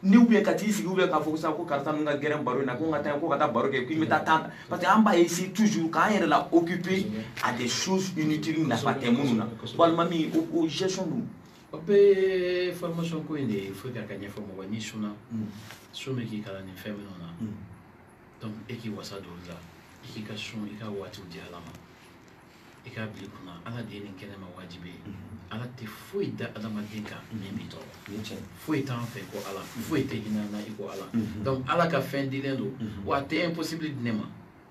ni ou bien ka t'i sigi ou bien k'a fɔ sisan ko karisa ninnu ka gɛrɛn baro in na ko n ka taa ko ka taa baro kɛ ko n bɛ taa temps ta parce que an b'a essayer toujours k'an yɛrɛ la occuper à des choses inutiles nafa tɛ minnu na walima min o o gestion dun o bɛɛ formation ko in de ye fo ka ka ɲɛfɔ mɔgɔ n'i sunna mm. sun bɛ k'i kalan nin fɛn minnu na mm. donc e k'i wasa don olu la i k'i ka sun i ka waatiw di ala ma i k'a bila i kunna ala de ye nin kɛ ne ma wajibi ye mm. ala tɛ foyi da adamaden kan min b'i tɔɔrɔ foyi t'an fɛ ko ala foyi tɛ hinɛ na i ko ala mm-hmm. donc ala ka fɛn dilen don mm-hmm. wa a tɛ impossible di ne ma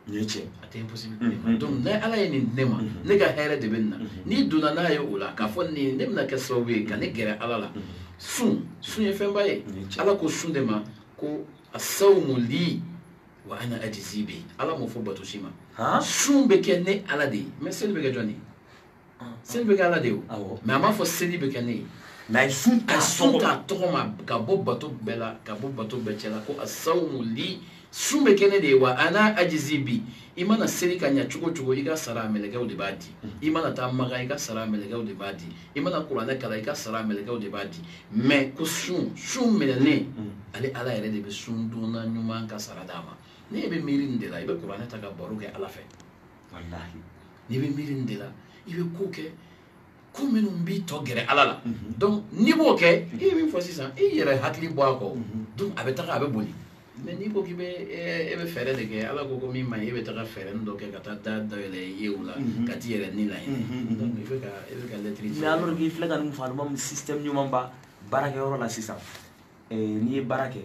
n ye cɛ a tɛ impossible di ne ma donc ni ala ye nin di ne ma ne ka hɛrɛ de bɛ nin na n'i donna n'a ye o la k'a fɔ nin ne bɛna kɛ sababu ye ka ne gɛrɛ ala la sun sun ye fɛnba ye ala ko sun de ma ko asawumu li wa ana ajizi bi ala m'o fɔ bato si ma sun bɛ kɛ ne ala de ye mais seli bɛ kɛ jɔn de ye seli bɛ kɛ ala de ye o mais a m'a fɔ seli bɛ kɛ ne ye mais a ye sun ta a tɔgɔ ma ka bɔ bato bɛɛ la ka bɔ bato bɛɛ cɛ la ko asawumu li sun bɛ kɛ ne de ye wa ana ajizi bi i mana seli ka ɲa cogo cogo i ka sara mɛlɛkɛw de b'a di mm. i mana taa makan i ka sara mɛlɛkɛw de b'a di i mana kuranɛ kalan i ka sara mɛlɛkɛw de b'a di mais ko sun sun minɛnen mm. ale ala yɛrɛ de bɛ sundonna ɲuman ka sara d'a ma n'i bɛ miiri nin de la i bɛ kuranɛ ta ka baro kɛ ala fɛ walahi n'i bɛ miiri nin de la i bɛ ko kɛ ko minnu b'i to gɛrɛ ala la mhm. donc n'i b'o kɛ i ye min fɔ sisan i yɛrɛ hakili bɔ a kɔ mhm. donc a bɛ taga a bɛ boli mais n'i ko k'i bɛ e bɛ fɛɛrɛ de kɛ ala ko ko min man ɲi e bɛ taga fɛɛrɛ dɔ kɛ ka taa da dayɛlɛ i ye o la mhm. ka t'i yɛrɛ ni laɲini donc i bɛ ka e bɛ ka lɛtiri mais alors k'i filɛ ka nin fɔ alimami système ɲuman ba baarakɛyɔrɔ la sisan n'i ye baara kɛ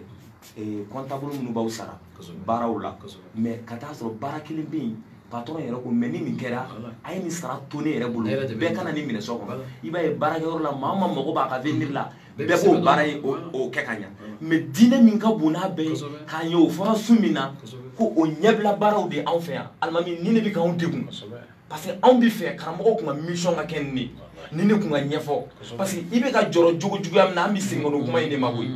comptable minnu b'aw sara baaraw la mais ka taa sɔrɔ baara kelen bɛ yen patron yɛrɛ ko mais ni nin kɛra a ye nin sara to ne yɛrɛ bolo bɛɛ kana nin minɛ sɔn kɔnɔ i b'a ye baarakɛyɔrɔ la maa o maa mago b'a ka avenir la bɛɛ b'o baara ye o kɛ ka ɲa mais diinɛ min ka bon n'a bɛɛ ye k'a ye o fɔra sun min na ko o ɲɛbila baaraw de anw fɛ yan alimami nin de bɛ k'anw degun parce que anw bɛ fɛ karamɔgɔw kun ka mission ka kɛ nin de nin de kun ka ɲɛfɔ parce que i bɛ ka jɔrɔ jogo juguya min na an bɛ segin o kuma in de ma koyi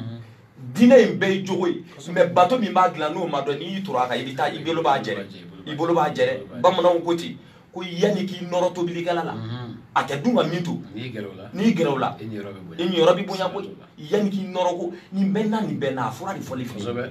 diinɛ in bɛɛ ye jogo ye mais bato min b'a dilan n'o ma dɔn n'i y'i turu a kan i bɛ taa i bolo b'a jɛrɛ i bolo b'a jɛrɛ bamananw ko ten ko yanni k'i nɔrɔ tobilikɛla la a tɛ dun ka min to n'i gɛrɛ o la i niyɔrɔ bɛ bonya koyi yanni k'i nɔrɔ ko nin bɛɛ na nin bɛɛ na a fura de fɔli fɛ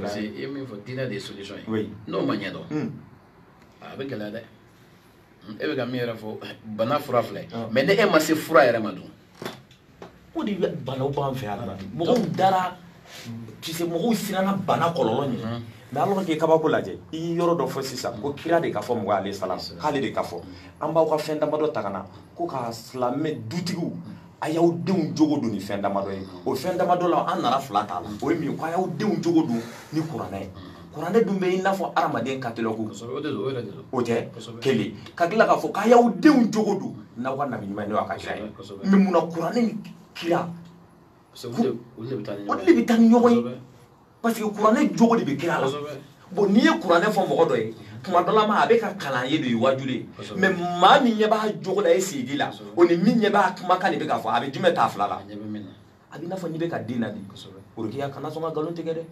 parce que i ye min fɔ diinɛ de ye solution ye n'o ma ɲɛdɔn hmm. a bɛ gɛlɛya dɛ hmm, e bɛ ka min yɛrɛ fɔ bana fura filɛ ah. mais ni e ma se fura yɛrɛ ma dun o de bɛ banaw b'an fɛ yan ah. mɔgɔw dara tu sais mɔgɔw siranna bana kɔlɔlɔ ɲɛ hmm. mais alors que kabako lajɛ i ye yɔrɔ dɔ fɔ sisan ko kira de ka fɔ mɔgɔ ale salam k'ale de ka fɔ an b'aw ka fɛn damadɔ ta ka na ko k'aw silamɛ dutigiw a y'aw denw jogo don ni fɛn damadɔ ye o fɛn damadɔ la an nana fila t'a la o ye min ye ko a y'aw denw jogo don ni kuranɛ ye kuranɛ dun bɛ i n'a fɔ hadamaden catalogue o tɛ kelen ka tila k'a fɔ k'a y'aw denw jogo don n'aw ka nabi ɲuman ye n'o y'a ka kira ye mais mun na kuranɛ ni kira olu de bɛ taa ni ɲɔgɔn ye parce que kuranɛ jogo de bɛ kira la bon n'i ye kuranɛ fɔ mɔgɔ dɔ ye tuma dɔ la ma a bɛ ka kalan in de ye waajuli ye mais maa min ɲɛ b'a jogo la e sigi la o ni min ɲɛ b'a kumakan de bɛ ka fɔ a bɛ jumɛn t'a fila la a bɛ i n'a fɔ n'i bɛ ka den laadi worokiya kana sɔn ka nkalon tigɛ dɛ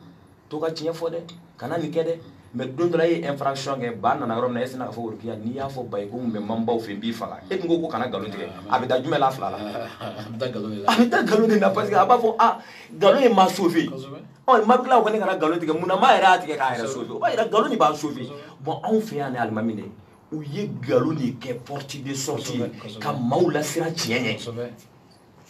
to ka tiɲɛ fɔ dɛ kana nin kɛ dɛ mais don dɔ la e ye infraction kɛ ba nana yɔrɔ min na e sina k'a fɔ worokiya n'i y'a fɔ ba ye ko n bɛ man baw fɛ n b'i faga e dun ko kana nkalon tigɛ a bɛ da jumɛn la fila la a bɛ da nkalon de la parce que a b'a fɔ nkalon ye ma sauvé ɔ ma tila ko ne kana nkalon tigɛ mun na ma yɛrɛ y'a tigɛ k'a yɛrɛ sauvé o b'a yira nkalon de b'a sauvé bon anw fɛ yan ni alimami de u ye nkalon de kɛ porte de sortie ka maaw lasiran tiɲɛ ɲɛ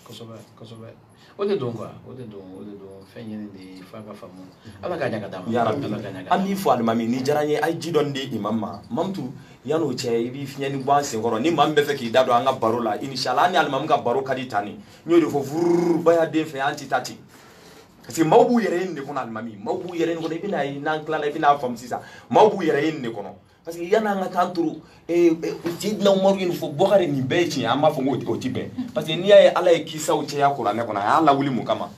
kosɛbɛ kosɛbɛ o de don quoi o de don o de don fɛn ɲini de ye f'a ka faamu ala ka ɲa ka d'a ma yarabi ala ka ɲa ka an b'i fo alimami nin diyara n ye a ye ji dɔɔni di imam ma mamutu yann'o cɛ i b'i fiɲɛni bɔ an senkɔrɔ ni maa min bɛ fɛ k'i da don an ka baro la inshallah an ni alimami ka baro ka di tan ni n y'o de fɔ vururu baya den fɛ an tɛ taa ten parce que maaw b'u yɛrɛ ye nin de kɔnɔ alimami maaw b'u yɛrɛ ye nin kɔnɔ i bɛna ye n'an tilala i bɛna a faamu sisan maaw b'u yɛrɛ ye nin de kɔnɔ parce que yanni an ka taa turu sidina umaru ye nin fɔ bɔkari nin bɛɛ ye tiɲɛ an b'a fɔ ko o ti bɛn parce que n'i y'a ye ala ye kisaw cɛya kuranɛ kɔnɔ a y'a lawuli mun kama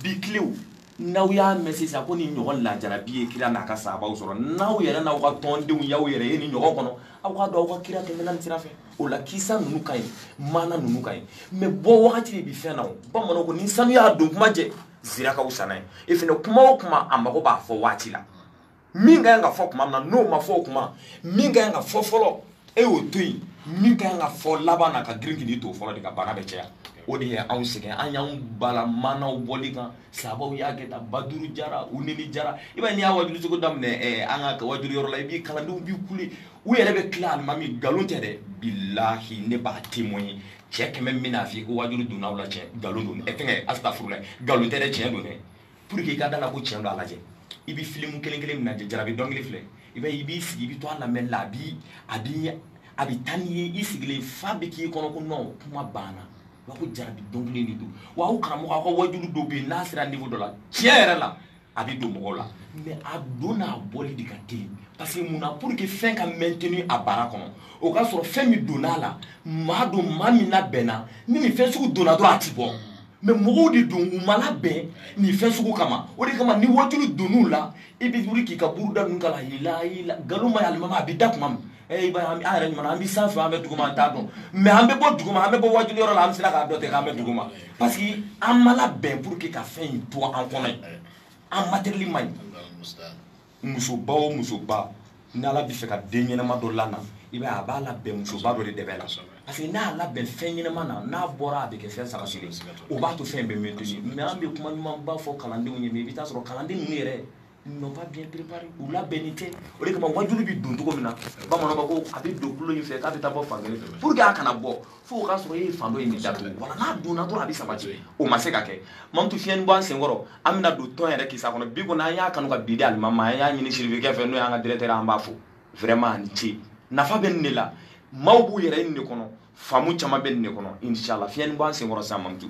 bi tilew n'aw y'a mɛn sisan ko nin ɲɔgɔn lajarabi ye kira n'a ka sahabaw sɔrɔ n'aw yɛrɛ n'aw ka tɔndenw y'aw yɛrɛ ye nin ɲɔgɔn kɔnɔ aw k'a dɔn aw ka kira tɛmɛna nin sira fɛ o la kisa ninnu ka ɲi maana ninnu ka ɲi mais bɔ wagati de bi fɛn na o bamananw ko ni sanu y'a don kuma jɛ zira ka wusa n'a ye e fɛnɛ kuma o kuma a mago b'a fɔ waati la min ka ɲi ka fɔ kuma min na n'o ma fɔ o kuma min ka ɲi ka fɔ fɔlɔ e y'o to yen min ka ɲi ka fɔ laban na ka girin k'i to fɔlɔ de ka bana bɛ caya o de ye anw sɛgɛn an y'anw bala maanaw bɔli kan sahabaw y'a kɛ tan baduru jara uneni jara i b'a ye n'i y'a wajulu cogo daminɛ ɛɛ eh, an ka wajulu yɔrɔ la i b'i kalandenw bi kule u yɛrɛ bɛ tila alimami nkalon tɛ dɛ bilahi ne b'a témoigner cɛ kɛmɛ min bɛna f'i ko wajulu donna aw la cɛ nkalon don ɛ eh, fɛnkɛ asitafurulayi nkalon tɛ dɛ tiɲɛ don dɛ pour que i ka da la ko tiɲɛ don a lajɛ i bɛ filimu kelen kelen min lajɛ jarabi dɔnkili filɛ i bɛ i b'i sigi i bɛ to a lamɛnni la a bi a bi a bɛ taa n'i ye i sigilen f'a bɛ k'i kɔnɔ ko non kuma banna wa ko jarabi dɔnkili de don wa aw karamɔgɔ aw ka wajulu dɔ bɛ yen n'a sera niveau dɔ la tiɲɛ yɛrɛ la a bɛ don mɔgɔw la mais a don n'a bɔli de ka teli parce que mun na pour que fɛn ka maintenir a baara kɔnɔ o k'a sɔrɔ fɛn min donna a la maa don maa min labɛnna ni nin fɛn sugu donna dɔrɔn a ti bɔ mais mɔgɔw de don u ma labɛn nin fɛn sugu kama o de kama ni wajulu donn'u la i bɛ wuli k'i ka buruda ninnu kala yila yila nkalon ma ye alimami a bɛ da tuma min ee ba an yɛrɛ ɲuman an bɛ sanfɛ an bɛ duguma an t'a dɔn mais an bɛ bɔ duguma an bɛ bɔ wajulu yɔrɔ la an bɛ sera k'a dɔn ten k'an bɛ duguma parce que an ma labɛn pour que ka fɛn in to an kɔnɔ yen an matériel man ɲi musoba o musoba ni ala bɛ fɛ ka den ɲɛnama dɔ lana i b'a a b'a labɛn musoba dɔ de dɛbɛ la parce que n'a labɛn fɛn ɲɛnama na n'a bɔra a bɛ kɛ fɛn sabatilen o b'a to fɛn bɛ maintenir mais an bɛ kuma ɲumanba fɔ kalandenw ye mais i bɛ taa sɔrɔ kalanden ninnu yɛrɛ n'ont pas bien préparé u labɛnnen tɛ o de kama wajulu bɛ don cogo min na bamananw ko a bɛ don tulo in fɛ k'a bɛ taa bɔ fan kelen fɛ pour que a kana bɔ fo o k'a sɔrɔ e ye fan dɔ in de datugu wala n'a donna dɔrɔn a bɛ sabati o ma se ka kɛ mamutu fiɲɛni bɔ an senkɔrɔ an bɛna don tɔn yɛrɛ kisa kɔnɔ bi kɔni an y'a kanu ka bi di alimami ma an y'a ɲini sirifikɛ fɛ n'o y'an ka directeur an b'a fo vraiment a ni ce nafa bɛ nin de la maaw b'u yɛrɛ nin de kɔnɔ faamu caman bɛ nin de kɔnɔ inshallah fiɲɛni bɔ an senkɔrɔ sisan mamutu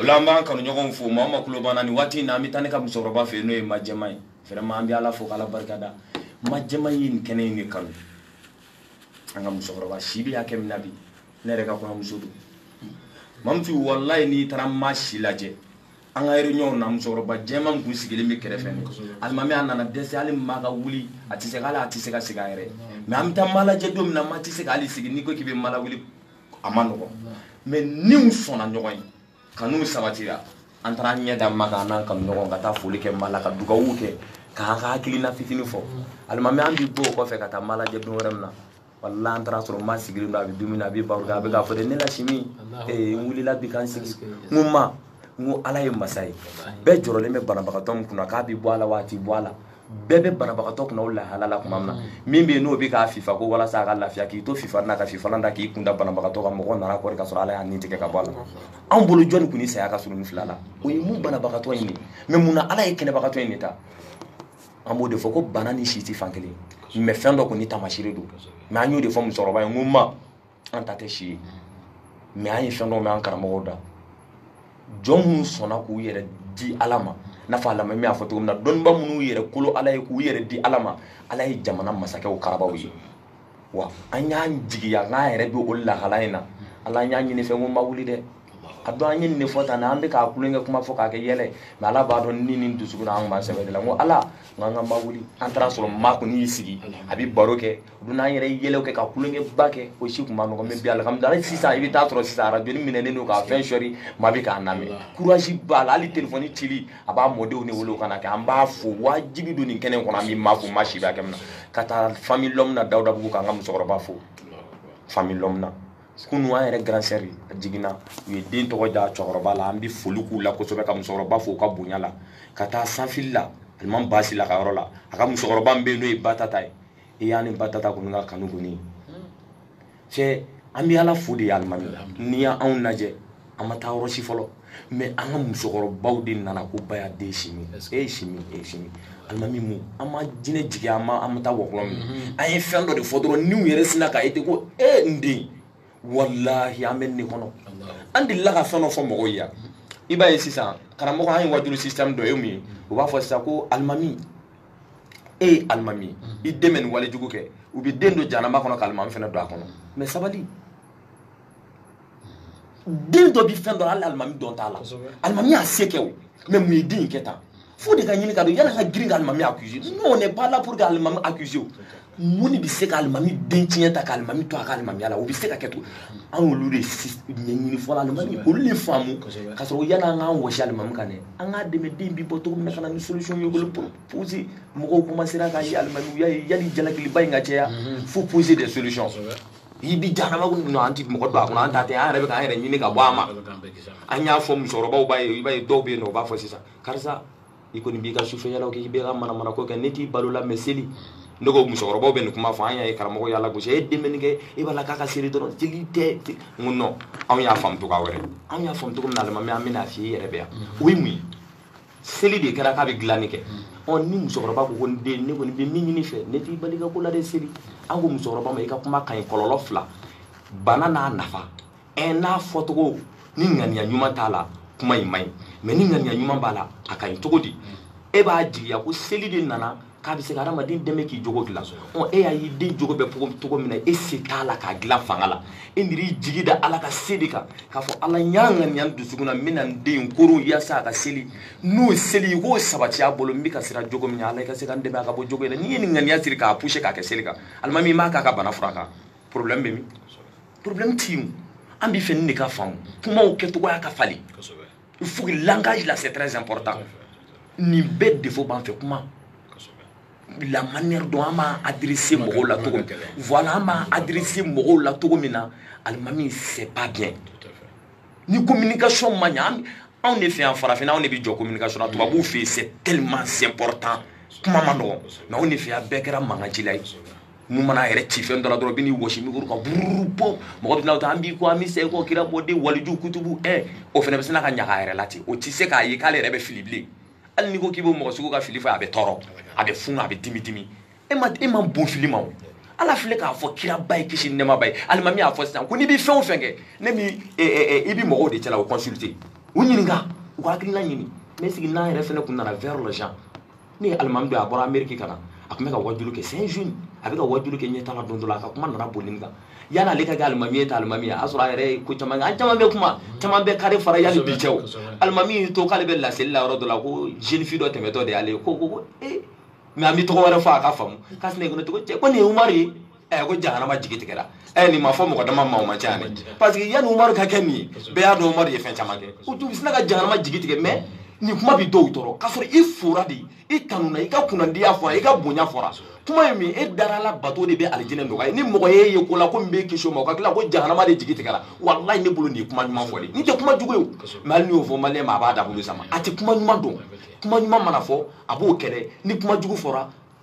o la an b'an kanuɲɔgɔnw fo maa o maa tulo b'an na nin waati in na an bɛ taa ne ka musokɔrɔba fɛ yen n'o ye majɛma ye vraiment an bɛ ala fo k'ala barika da majɛma ye nin kɛnɛ in de kanu an ka musokɔrɔba si bɛ hakɛ min na bi ne yɛrɛ ka kɔɲɔmuso don mamutu walayi n'i taara maa si lajɛ an ka réunion na musokɔrɔba jɛma min kun sigilen bɛ kɛrɛfɛ nin alimami a nana dɛsɛ hali maa ka wuli a tɛ se ka hali a tɛ se ka sigi a yɛrɛ mais an bɛ taa maa lajɛ don min na maa tɛ se ka hali sigi n'i ko k'i bɛ maa lawuli a man nɔgɔ mais niw sɔnna ɲɔgɔn ye kanu sabatira an taara ɲɛ da ma kan n'an kanuɲɔgɔn ka taa foli kɛ ma la ka dugawu kɛ k'an ka hakilina fitini fɔ alimami an bi bɔ o kɔfɛ ka taa ma lajɛ don wɛrɛ min na walahi an taara sɔrɔ ma sigilen don a bɛ dumuni a bɛ baro a bɛ k'a fɔ de ne la simi n wulila bi kan sigi n ma n ko ala ye masa ye bɛɛ jɔrɔlen bɛ banabagatɔ min kunna k'a bɛ bɔ a la wa a tɛ bɔ a la bɛɛ bɛ banabagatɔ kunna o lahala la tuma min na min bɛ yen n'o bɛ k'a fifa ko walasa a ka lafiya k'i to fifa na ka fifalan da k'i kun da banabagatɔ kan mɔgɔ nana kɔri ka sɔrɔ ala y'a ni tigɛ ka bɔ a la anw bolo jɔni kun ni saya ka surun nin fila la o ye mun banabagatɔ in de mais mun na ala ye kɛnɛbagatɔ in de ta an b'o de fɔ ko bana ni si tɛ fan kelen mais fɛn dɔ kɔni tamasire don mais an y'o de fɔ musokɔrɔba ye n ko ma an ta tɛ si ye mais an ye fɛn dɔ mɛn an karamɔgɔw da jɔn minnu sɔnna k'u yɛrɛ di ala ma n'a fɔ alimami y'a fɔ cogo min na dɔnniba minnu yɛrɛ kolo ala ye k'u yɛrɛ di ala ma ala ye jamana masakɛw karaba u ye wa an y'an jigiya k'an yɛrɛ bɛ o lahala in na ala an y'a ɲini i fɛ n ko ma wuli dɛ a dɔn an ye nin de fɔ tan an bɛ k'a kulonkɛ kuma fɔ k'a kɛ yɛlɛ mais ala b'a dɔn ni ni dusukun an b'a sɛbɛ de la n ko ala n k'an ka ma wuli an taara sɔrɔ ma kɔni y'i sigi a bɛ baro kɛ don an yɛrɛ yɛlɛw kɛ ka kulonkɛba kɛ o si tun man nɔgɔ mais bi alihamudulayi sisan i bɛ taa sɔrɔ sisan arajonin mɛnɛnen don k'a fɛn sɔri ma bɛ k'a lamɛn courage b'a la hali telefɔni cili a b'a mɔdenw de wele u ka n'a kɛ an b'a fo wajibi don nin kɛnɛ kɔnɔ an bɛ ma fo maa si b'a kɛ min na ka taa famille lɔmu na dawudabugu k'an ka musokɔrɔba fo famille lɔmu na kunu an yɛrɛ grande sœur a jiginna u ye den tɔgɔ da cɛkɔrɔba la an bɛ foli k'u la kosɛbɛ ka musokɔrɔba fo u ka bonya la ka taa sanfili la alimami basila ka yɔrɔ la a ka musokɔrɔba min bɛ yen n'o ye ba tata ye i y'an ni ba tata kɔni ka kanu kɔni cɛ an bɛ ala fo de ye alimami n'i y'anw lajɛ an ma taa yɔrɔ si fɔlɔ mais an ka musokɔrɔbaw de nana ko baya den simi e ye simi e ye simi alimami mu an ma jinɛ jigin an ma an ma taa wɔkulɔ min mhm. an ye fɛn dɔ de fɔ dɔrɔn niw yɛrɛ sinna k'a ye ten ko e eh, n den walahi an bɛ nin kɔnɔ an delila ka fɛn dɔ fɔ mɔgɔw ye yan i b'a ye sisan karamɔgɔ an ye wajuli système dɔ ye mun ye u b'a fɔ sisan ko alimami e ye alimami ye mm-hmm. i den bɛ nin wale jugu kɛ u bɛ den don jahanama kɔnɔ ka alimami fana don a kɔnɔ mais sabali den dɔ bi fɛn dɔ la hali alimami dɔn t'a la alimami y'a se kɛ o mais mun ye den in kɛ tan fo o de ka ɲini ka dɔn yala ka girin ka alimami accuser non on n'est pas là pour que alimami accuser o mun de bɛ se ka alimami den tiɲɛ tan ka alimami to a ka alimamiya la o bɛ se ka kɛ to an y'olu de ɲɛɲini fɔlɔ alimami olu de faamu ka sɔrɔ yanni an k'an wɔsi alimami kan dɛ an k'a dɛmɛ den bi bɔ cogo min na ka na ni solution ye olu poser mɔgɔw commencera k'a ye alimami y'a ye yanni jalakiliba in ka caya faut poser des solutions i bi jahanama kun an ti mɔgɔ don a kɔnɔ an ta tɛ an yɛrɛ bɛ k'an yɛrɛ ɲini ka bɔ a ma an y'a fɔ musokɔrɔbaw b'a ye i b'a ye dɔw bɛ yen nɔ u b'a fɔ sisan karisa i kɔni b'i ka sufɛyalaw kɛ i bɛ ka manamanako kɛ ne t'i bal'o la mais seli ne ko musokɔrɔbaw bɛ nin kuma fɔ an y'a ye karamɔgɔ y'a lagosi e den bɛ nin kɛ e b'a la k'a ka seli dɔrɔn seli tɛ n ko non anw y'a faamu cogoya wɛrɛ anw y'a faamu cogo min na alimami an bɛna a f'i ye i yɛrɛ bɛ yan o ye mun ye seli de kɛra k'a bɛ dilanni kɛ ɔ ni musokɔrɔba ko ko n den ne kɔni bɛ min ɲin'i fɛ ne t'i bal'i ka ko la dɛ seli an ko musokɔrɔba ma i ka kuma ka ɲi kɔlɔlɔ fila b'a la n'a nafa ɛ n'a fɔcogo ni ŋaniya ɲuman t'a la kuma in man ɲi mais ni ŋaniya ɲuman b'a la a ka ɲi cogo di e b'a jigiya ko seli de nana k'a bɛ se ka hadamaden dɛmɛ k'i jogo dilan ɔ e y'a y'i den jogo bɛ cogo min na e se t'a la k'a dilan fanga la e miiri i jigi da ala ka se de kan k'a fɔ ala n y'a ŋaniya n dusukun na n bɛna n den koron yaasa a ka seli n'o seli i k'o sabati a bolo n bɛ ka siran jogo min na ala i ka se ka n dɛmɛ a ka bɔ jogo in na n'i ye nin ŋaniya siri k'a pousser k'a kɛ seli kan alimami i m'a k'a ka bana fura kan problème bɛ min problème tɛ yen an b'a fɛ nin de ka faamu kumaw kɛcogoya ka falen il faut que langage là c'est très important nin bɛɛ défaut b'an fɛ kuma la manière dont an b'a adresser mɔgɔw la cogo min voilà an b'a adresser mɔgɔw la cogo min na alimami c'est pas bien ni communication ma ɲa anw de fɛ yan farafinna anw de bɛ jɔn communication na tubabuw fɛ yen c'est tellement important kuma man nɔgɔn mais anw de fɛ yan bɛɛ kɛra mankancila ye nin mana a yɛrɛ ci fɛn dɔ la dɔrɔn bɛ n'i wɔsi mikoro kan bururu bɔ mɔgɔ bɛ na ta an b'i kɔ an bɛ cheikh kɔ kira mɔden waliju kutubu ɛ o fana bɛ sina ka ɲaga a yɛrɛ la ten o tɛ se k'a ye k'ale yɛrɛ bɛ fili bilen hali n'i ko k'i b'o mɔgɔ sugu ka fili fɔ a bɛ tɔɔrɔ a bɛ funu a bɛ dimi dimi e ma e ma bon fili ma o ala filɛ k'a fɔ kiraba ye kisi nɛɛma b'a ye alimami y'a fɔ sisan ko n'i bɛ fɛn o fɛn kɛ ne ni i bɛ mɔgɔw de cɛla u consulter u ɲininka u ka hakilina ɲini mais sigi n'an yɛrɛ fɛnɛ kun nana vers les gens ne ye alimami dɔn a bɔra ameriki ka na a tun bɛ ka wajulu kɛ c'est un jeune a bɛ ka wajulu kɛ ɲɛta la don dɔ la a ka kuma nana boli nin kan yani ale ka kɛ alimami ye ka alimamiya sɔrɔ a yɛrɛ ye ko caman kɛ an caman bɛ kuma caman bɛ kare fara yani bi cɛ alimami y'i to k'ale bɛ laseli la yɔrɔ dɔ la ko jeune fille dɔ tɛmɛtɔ de y'ale ye ko ko ko ee mais an bɛ tɔgɔ wɛrɛ fɔ a ka faamu k'a sinayi ko ne tɔgɔ cɛ ko nin ye umaru ye ɛ eh, ko jahanama jigi tigɛra ɛ eh, nin ma fɔ mɔgɔ dama ma o man ca dɛ parce que yanni umaru ka kɛ nin ye bɛɛ y'a dɔn umaru ye fɛn caman kɛ u tun sina ka jahanama jigi tigɛ mais nin kuma bi dɔw tɔɔrɔ k'a sɔrɔ i fora de i tanuna i ka kunnandiya fɔra i ka bonya fɔra kuma ye min e dara ala bato de bɛ alijinɛ nɔgɔya ni mɔgɔ y'e ye ko la ko min b'e kisi o ma o ka tila ko jahanama de jigi tigɛra walayi ne bolo nin ye kuma ɲuman fɔ de nin tɛ kuma jugu ye o mais hali n'i y'o fɔ maliyɛn ma a b'a dagolo sama a tɛ kuma ɲuman dɔn kuma ɲuman mana fɔ a b'o kɛlɛ ni kuma jugu fɔra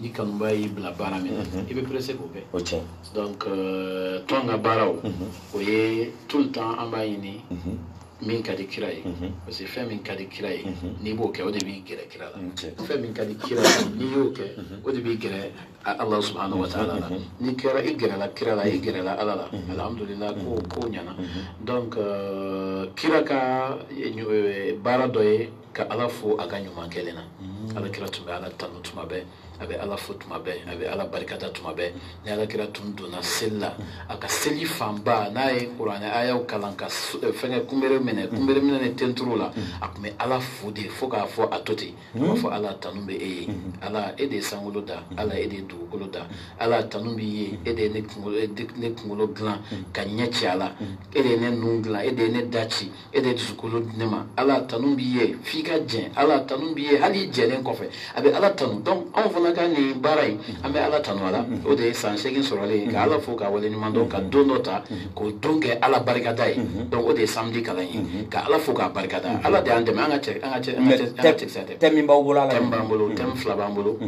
ni kanuba y'i bila baara min na mhm. i bɛ pressé k'o kɛ o tiɲɛ donc euh, tɔn ka baaraw mhm. o ye tout le temps an b'a ɲini mhm. min ka di kira ye parce que fɛn min ka di kira ye n'i b'o kɛ o de b'i gɛrɛ kira la fɛn min ka di kira ye n'i y'o kɛ o de b'i gɛrɛ ala subhanahu wa taala la n'i kɛra i gɛrɛla kira la i gɛrɛla ala la alhamdulillah ko ko ɲɛna donc euh, kira ka euh, baara dɔ ye ka ala fo a ka ɲuman kɛlen na mm. ala kira tun bɛ ala tanu tuma bɛɛ a bɛ ala fo tuma bɛɛ a bɛ ala barikada tuma bɛɛ ni ala kira tun donna seli la a ka seli fanba n'a ye kuranɛ ayaw kalan ka eh, fɛngɛ kunbere minɛ mm. kunbere minɛ ni tenturu la mm. a tun bɛ ala fo de fo k'a fɔ a to ten a b'a fɔ ala tanu bɛ e ye ala e de ye sankolo da ala e de ye dugukolo da ala tanu b'i ye e de ye ne kunkolo eh, dilan ka ɲɛ ci a la e de ye ne nun dilan e de ye ne da ci e de ye dusukolo di ne ma ala tanu b'i ye f'i ka jɛn ala tanu b'i ye hali i jɛnnen kɔfɛ a bɛ ala tanu donc anw fana ka nin baara in an bɛ ala tanu a la o de ye san seegin sɔrɔlen ye ka ala fo ka wale ɲuman dɔn ka don dɔ ta k'o don kɛ ala barikada ye donc o de ye samedi kalan ye ka ala fo k'a barikada ala de y'an dɛmɛ an ka cɛ an ka cɛ an ka cɛ an ka cɛkisɛ tɛ thème b'aw bolo ala thème b'an bolo thème fila b'an bolo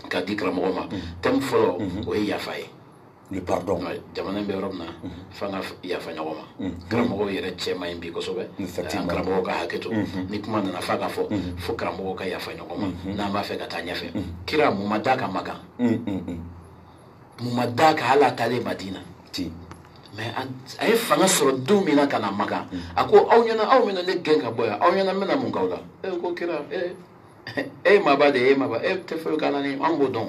ka di karamɔgɔ ma thème fɔlɔ o ye yafa ye le pardon jamana in bɛ yɔrɔ min na fo an ka yafa ɲɔgɔn ma karamɔgɔw yɛrɛ cɛ man ɲi bi kosɛbɛ an karamɔgɔw ka hakɛ to ni kuma nana f'a ka fɔ fo karamɔgɔw ka yafa ɲɔgɔn ma n'an b'a fɛ ka taa ɲɛfɛ kira mun ma d'a kan makan mun ma d'a kan hali a taalen madina mais a ye fanga sɔrɔ don min na ka na makan a ko aw ɲɛna aw bɛna ne gɛn ka bɔ yan aw ɲɛ na n bɛna mun k'aw la e ko kira e ye maaba de ye e ye maaba e tɛ foyi k'an na ni anw b'o dɔn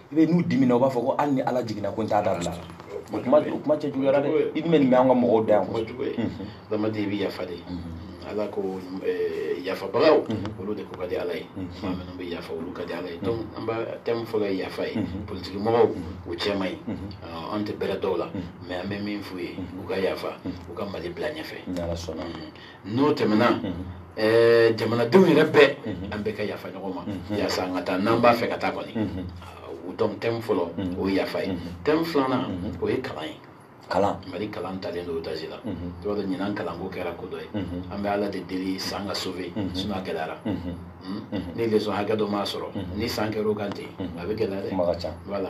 i bɛ n'u dimina u b'a fɔ ko hali ni ala jiginna ko n t'a dabila o kuma o kuma cɛjuguyara dɛ i dun bɛ nin mɛn an ka mɔgɔw da yan kuma jugu ye adamaden mhm. i bɛ yafa de mhm. ala ko eh, yafabagaw mhm. olu de ko ka di ala ye maa minnu bɛ yafa olu ka di ala ye donc an b'a thème fɔlɔ ye yafa ye politiki mɔgɔw u cɛ man ɲi ah, an tɛ bɛrɛ dɔn u la mais an bɛ min f'u ye u ka yafa u ka mali bila ɲɛfɛ n'o tɛmɛna ɛɛ jamanadenw yɛrɛ bɛɛ an bɛɛ ka yafa ɲɔgɔn ma yaasa an ka taa n'an b'a fɛ ka taa kɔni donc thème fɔlɔ o ye yafa ye thème filanan o ye kalan ye kalan mali kalan talen don daji la i b'a dɔn ɲinan kalanko kɛra ko dɔ ye an bɛ ala de deli san ka sauvé sinon a gɛlɛyara ni leçon hakɛ dɔ ma sɔrɔ ni san kɛra o kan ten a bɛ gɛlɛya dɛ kuma ka ca voilà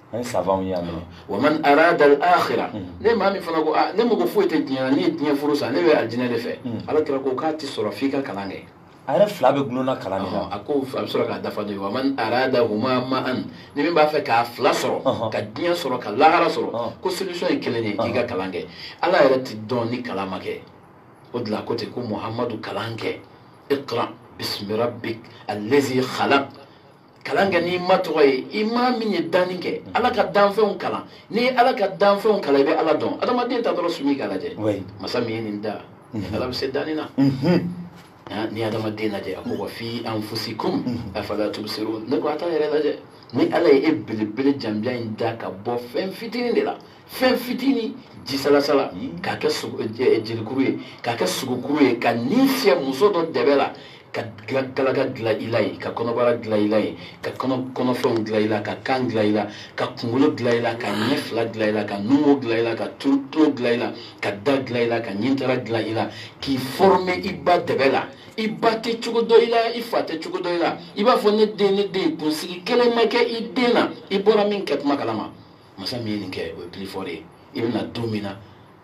an ye savantw ye yan nɔ wa man arada al-akhira ni maa min fana ko aa ne mago foyi tɛ diɲɛ na ne ye diɲɛ furu sa ne bɛ alijinɛ de fɛ ala kira ko k'a tɛ sɔrɔ f'i ka kalan kɛ a yɛrɛ fila bɛɛ dulonna kalan de la a ko a bɛ sɔrɔ k'a dafa de wa man arada huma ma'an ni min b'a fɛ k'a fila sɔrɔ Ɔhɔn. ka diɲɛ sɔrɔ ka lahara sɔrɔ Ɔhɔn. ko solution ye kelen de k'i ka kalan kɛ ala yɛrɛ tɛ dɔn ni kalan ma kɛ o de la ko ten ko muhamadu kalan kɛ iqra bismi rabbik allazi khalaq kalan kɛ n'i ma tɔgɔ ye i ma min ye danni kɛ ala ka danfɛnw kalan n'i ye ala ka danfɛnw kalan i bɛ ala dɔn adamaden ta dɔrɔn sumi k'a lajɛ masa min ye nin da mhm. ala bɛ se danni na mhm. ni adamaden lajɛ a ko wa fi anfusikum mhm. afala tubsirun ne ko a t'a yɛrɛ lajɛ ni ala ye e belebele janbiya in da ka bɔ fɛn fitinin de la fɛn fitinin jisalasala k'a kɛ jelikuru ye k'a kɛ sogokuru ye ka ni fiyɛ muso dɔ dɛbɛ la ka galaka dilan i la yen ka kɔnɔbara dilan i la yen ka kɔnɔfɛnw dilan i la ka kan dilan i la ka kunkolo dilan i la ka ɲɛ fila dilan i la ka numu dilan i la ka tulo dilan i la ka da dilan i la ka ɲintara dilan i la k'i former i ba dɛbɛ la i ba tɛ cogo dɔn i la i fa tɛ cogo dɔn i la i b'a fɔ ne den ne den kunsigi kelen ma kɛ i den na i bɔra min kɛ kuma kalama masa min ye nin kɛ o ye plus fort de ye i bɛna don min na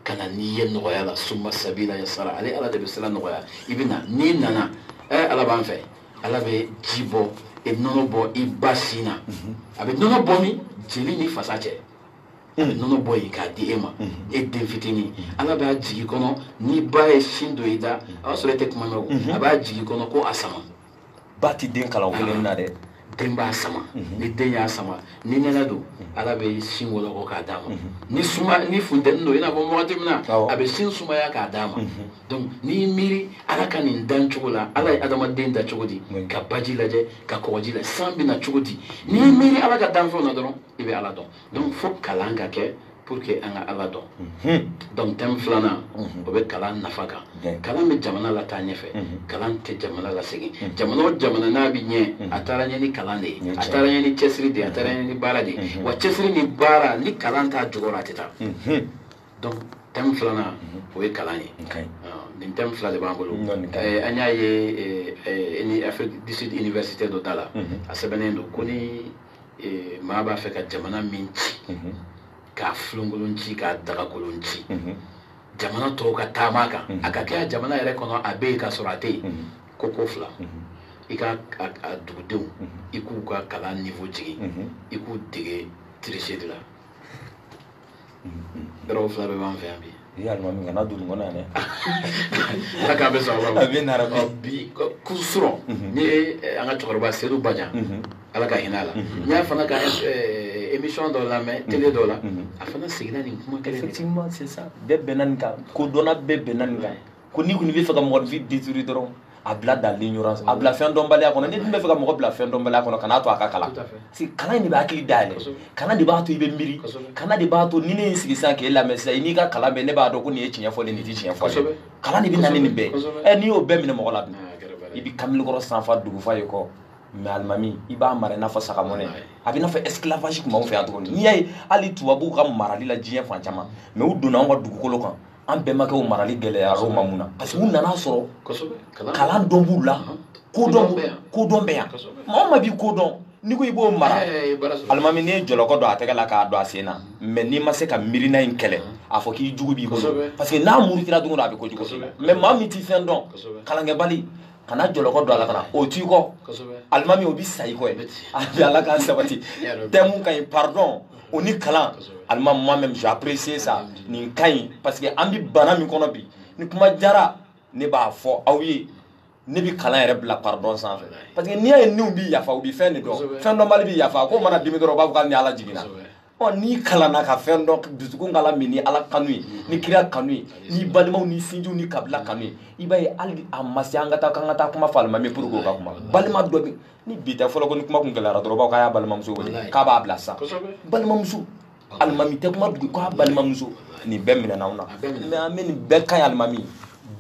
ka na n'i ye nɔgɔya la suma sabila yasara ale ala de bɛ sira nɔgɔya i bɛ na n'i nana ɛ ala b'an fɛ ala bɛ ji bɔ e nɔnɔ bɔ i ba sin na mhm. a bɛ nɔnɔ bɔ min jeli ni fasa cɛ a bɛ nɔnɔ bɔ yen k'a di e ma mhm. e den fitinin mhm. ala b'a jigin i kɔnɔ n'i ba ye sin don i da a b'a sɔrɔ e tɛ kuma mɛn o a b'a jigin i kɔnɔ ko a sama ba tɛ den kalan kelen na dɛ den b'a sama mhm. ni den y'a sama ni nɛnɛ don mhm. ala bɛ sin wɔlɔkɔ k'a d'a ma mhm. ni suma ni funteni don i n'a fɔ wagati min na a bɛ sin sumaya k'a d'a ma donc n'i miiri ala ka nin dan cogo la ala ye adamaden da cogo di ka baji lajɛ ka kɔgɔji lajɛ san bɛ na cogo di n'i miiri ala ka danfɛnw na dɔrɔn i bɛ ala dɔn donc fo kalan ka kɛ pour que an ka ala dɔn mhm. donc thème filanan mhm. o bɛ kalan nafa kan kalan bɛ jamana lataa ɲɛfɛ mhm. kalan tɛ jamana lasegin jamana o jamana n'a bɛ ɲɛ a taara ɲɛ ni kalan de ye a taara ɲɛ ni cɛsiri de ye a taara ɲɛ ni baara de ye wa cɛsiri ni baara ni kalan t'a jukɔrɔ a tɛ taa donc thème filanan o ye kalan ye ah, nin thème fila de b'an bolo eh, an y'a ye eh, eh, ni Afrique du Sud université dɔ da la a sɛbɛnnen don ko ni eh, maa b'a fɛ ka jamana min ci mhm. k'a filenkolon ci k'a dagakolon ci mhm. jamana tɔw ka taama a kan mhm. a ka kɛ a jamana yɛrɛ kɔnɔ a bɛ yen ka sɔrɔ a tɛ yen ko ko fila i ka a dugudenw i k'u ka kalan niveau jigin i k'u dege tricherie la yɔrɔ fila bɛɛ b'an fɛ yan bi i ye alimami kana don nin kɔnɔ yan dɛ ala k'a bɛ sɔrɔ a bɛ nara bi kunu surɔ ni an ka cɛkɔrɔba sedu bajan ala ka hinɛ a la n y'a fana ka émission dɔ lamɛn télé dɔ la a fana seginna nin kuma kelen effectivement c'est ça bɛɛ bɛnna nin kan ko dɔnna bɛɛ bɛnna nin kan ko n'i kɔni bɛ fɛ ka mɔgɔ vie détruire dɔrɔn a bila dans l'ignorance a bila fɛn dɔnbaliya kɔnɔ n'i dun bɛ fɛ ka mɔgɔ bila fɛn dɔnbaliya kɔnɔ kan'a to a ka kalan si kalan in de bɛ hakili dayɛlɛ kalan de b'a to i bɛ miiri kalan de b'a to ni ne ye n sigi sisan k'e lamɛn sisan i n'i ka kalan bɛɛ ne b'a dɔn ko nin ye tiɲɛ fɔlen nin tɛ tiɲɛ fɔlen kalan de bɛ na ni nin bɛɛ ye n'i y'o bɛɛ minɛ mɔgɔ la dun i bɛ kamalenkɔrɔ sanfa dugufa ye kɔ mais alimami i b'a mara i n'a fɔ sagamɔnɛ a bɛ i n'a fɔ esclavage tun b'anw fɛ yan cogo min n'i y'a ye hali tubabuw ka marali la diɲɛ fan caman mais u donna anw ka dugukolo kan an bɛnbakɛw marali gɛlɛyara u ma mun na parce que u nana sɔrɔ kalan dɔn b'u la kodɔn kodɔn bɛ yan maa o maa bi ko dɔn n'i ko i b'o mara alimami n'i ye jɔlɔkɔ don a tɛgɛ la k'a don a sen na mais n'i ma se ka miirina in kɛlɛ a fɔ k'i jugu b'i kɔ parce que n'a murutira don o don a bɛ ko jugu mais maa min ti fɛn dɔn kalankɛbali kana jɔlɔkɔ don a la kana o t'i kɔ alimami o bi sa i kɔ ye a bi ala k'an sabati thème ka ɲi pardon o ni kalan alimami moi même j'apprécie ça nin ka ɲi parce que an bi bana min kɔnɔ bi ni kuma jara ne b'a fɔ aw ye ne bi kalan yɛrɛ bila pardon sanfɛ parce que n'i y'a ye niw bi yafa u bi fɛn de dɔn fɛn dɔnbali bi yafa k'o mana dimi dɔrɔn u b'a fɔ k'ali ni ala jiginna ɔ n'i kalanna ka fɛn dɔn dusukun k'a lamini ala kanu ye ni kira kanu ye ni balimaw ni sinjiw ni kabila kanu ye i b'a ye hali a ma se an ka taa k'an ka taa kuma fɔ alimami pour que o ka kuma balima dɔ bɛ ni bi tɛ fɔlɔ ko ni kuma kun gɛlɛyara dɔrɔn u b'a fɔ k'a y'a balimamuso wele k'a b'a bila sisan balimamuso alimami tɛ kuma dugu k'a balimamuso nin bɛɛ minɛna anw na mais an bɛ nin bɛɛ ka ɲi alimami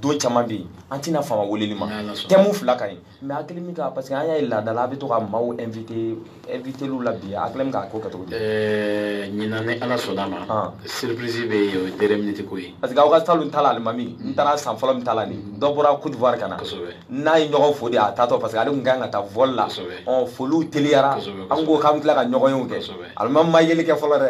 don caman bɛ yen an tɛna fama weleli ma thème fila ka ɲi mais hakili min ka parce que an y'a ye laadala a bɛ to ka maaw inviter invitélu la bi a hakili min k'a ko kɛ cogo di eh, ɲinan ni ala sɔnna ma ah. surprise bɛ yen o ye dernière minute ko ye parce que aw ka salon ta la alimami n taara san fɔlɔ min ta la nin dɔ bɔra Côte d'Ivoire ka na n n'a ye ɲɔgɔn fo de a taatɔ parce que ale tun ka kan ka taa vol la ɔ foliw teliyara an ko k'an bɛ tila ka ɲɔgɔnyew kɛ alimami n ma yeli kɛ fɔlɔ dɛ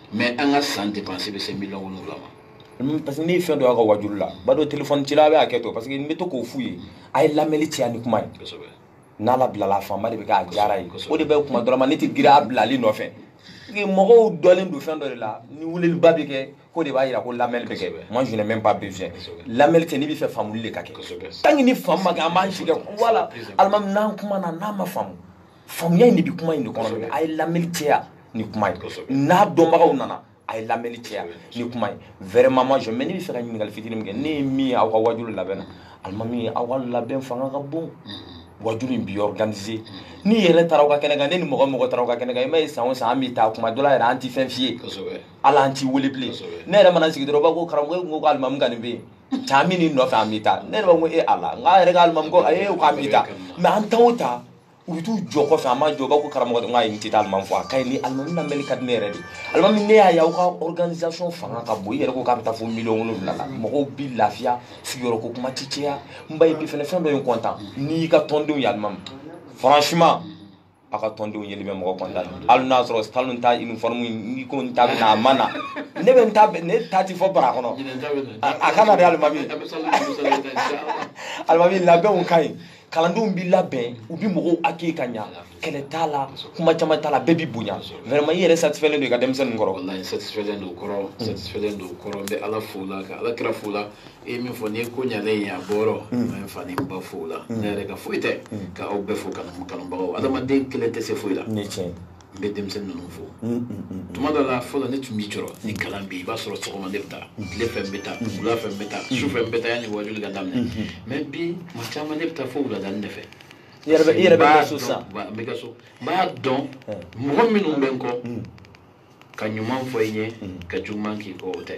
mais an ka san dépense bɛ se miliyɔn wolonwula ma parce que ne ye fɛn dɔ y'a ka wajulu la ba dɔ telefɔni cila a bɛ hakɛ to parce que n bɛ to k'o f'u ye a ye lamɛnli caya ni kuma ye n'a labilala a fanba de bɛ k'a diyara ye o de bɛ kuma dɔrɔn ma ne tɛ girin a bilali nɔfɛ mɔgɔw dɔlen don fɛn dɔ de la ni weleliba bɛ kɛ ko de b'a jira ko lamɛnli bɛ kɛ moi je n'ai même pas besoin lamɛnli tɛ ne bɛ fɛ faamuli de ka kɛ tant que ni faamu ma kɛ an b'an si kɛ voilà alimami n'an kumana n'a ma faamu faamuya in de bɛ kuma in de kɔnɔ a ye lamɛnni caya ni kuma ye n'a dɔnbagaw nana a ye lamɛnni caya ni kuma ye vraiment moi je mais ne bɛ fɛ ka ɲininkali fitini min kɛ ne ye min ye aw ka wajulu labɛn na alimami ye aw ka labɛn fanga ka bon mm-hmm. wajulu in bi organiser mm-hmm. ne yɛrɛ taara aw ka kɛnɛ kan ne ni mɔgɔ mɔgɔ taara aw ka kɛnɛ kan i m'a ye san o san an bɛ taa kuma dɔ la yɛrɛ an tɛ fɛn f'i ye ala an t'i wele bilen ne yɛrɛ mana sigi dɔrɔn b'a ko karamɔgɔ e ko ko alimami ka nin bɛ yen caman min nɔfɛ an bɛ taa ne yɛrɛ b'a ko e ala n k'a yɛrɛ ka alimami ko ayi k'an bɛ taa mais an taa o taa u bɛ t'u jɔ kɔfɛ an ma jɔ u b'a ko karamɔgɔ de n k'a ye n tɛ taa alimami fɔ a ka ɲi ni alimami lamɛnni ka di ne yɛrɛ de alimami ne y'a ye aw ka organisation fanga ka bon i yɛrɛ ko k'a bɛ taa fo miliyɔn wolonwula la mɔgɔw bi lafiya sigiyɔrɔ ko kuma tɛ caya n ba ye bi fana fɛn dɔ ye n kɔntan ne y'i ka tɔndenw ye alimami franchement a ka tɔndenw yeli bɛ mɔgɔ kɔntan hali n'a sɔrɔ salon ta uniforme ne ko n ta bɛ na a ma na ne bɛ n ta ne ta tɛ fɔ bara kɔnɔ a ka na dɛ alimami alimami labɛnw ka ɲi kalandenw b'i labɛn u bɛ mɔgɔw accueillir ka ɲa kɛlɛ t'a la kuma caman t'a la bɛɛ b'i bonya vraiment i yɛrɛ satisfailen don i ka denmisɛnnin kɔrɔ wallahi satisfailen don kɔrɔ hmm. satisfailen don kɔrɔ n bɛ ala fo la ka ala kira fo la e ye min fɔ n'i ye ko ɲalen ye a bɔyɔrɔ n bɛ n fa ni n ba fo la hmm. ne yɛrɛ ka foyi tɛ hmm. ka aw bɛɛ fo kanubagaw adamaden kelen tɛ se foyi la n bɛ denmisɛnnin ninnu fo tuma dɔ la fɔlɔ ne tun b'i jɔrɔ ni kalan bɛ yen i b'a sɔrɔ sɔgɔma ne bɛ taa tile fɛ n bɛ taa wula fɛ n bɛ taa su fɛ n bɛ taa yanni wajuli ka daminɛ mais bi tuma caman ne bɛ taa fo wuladani de fɛ i yɛrɛ bɛ i yɛrɛ bɛ kɛ so sisan n bɛ kɛ so n b'a dɔn mɔgɔ minnu bɛ n kɔ ka ɲuman fɔ i ɲɛ ka juguman k'i kɔ o tɛ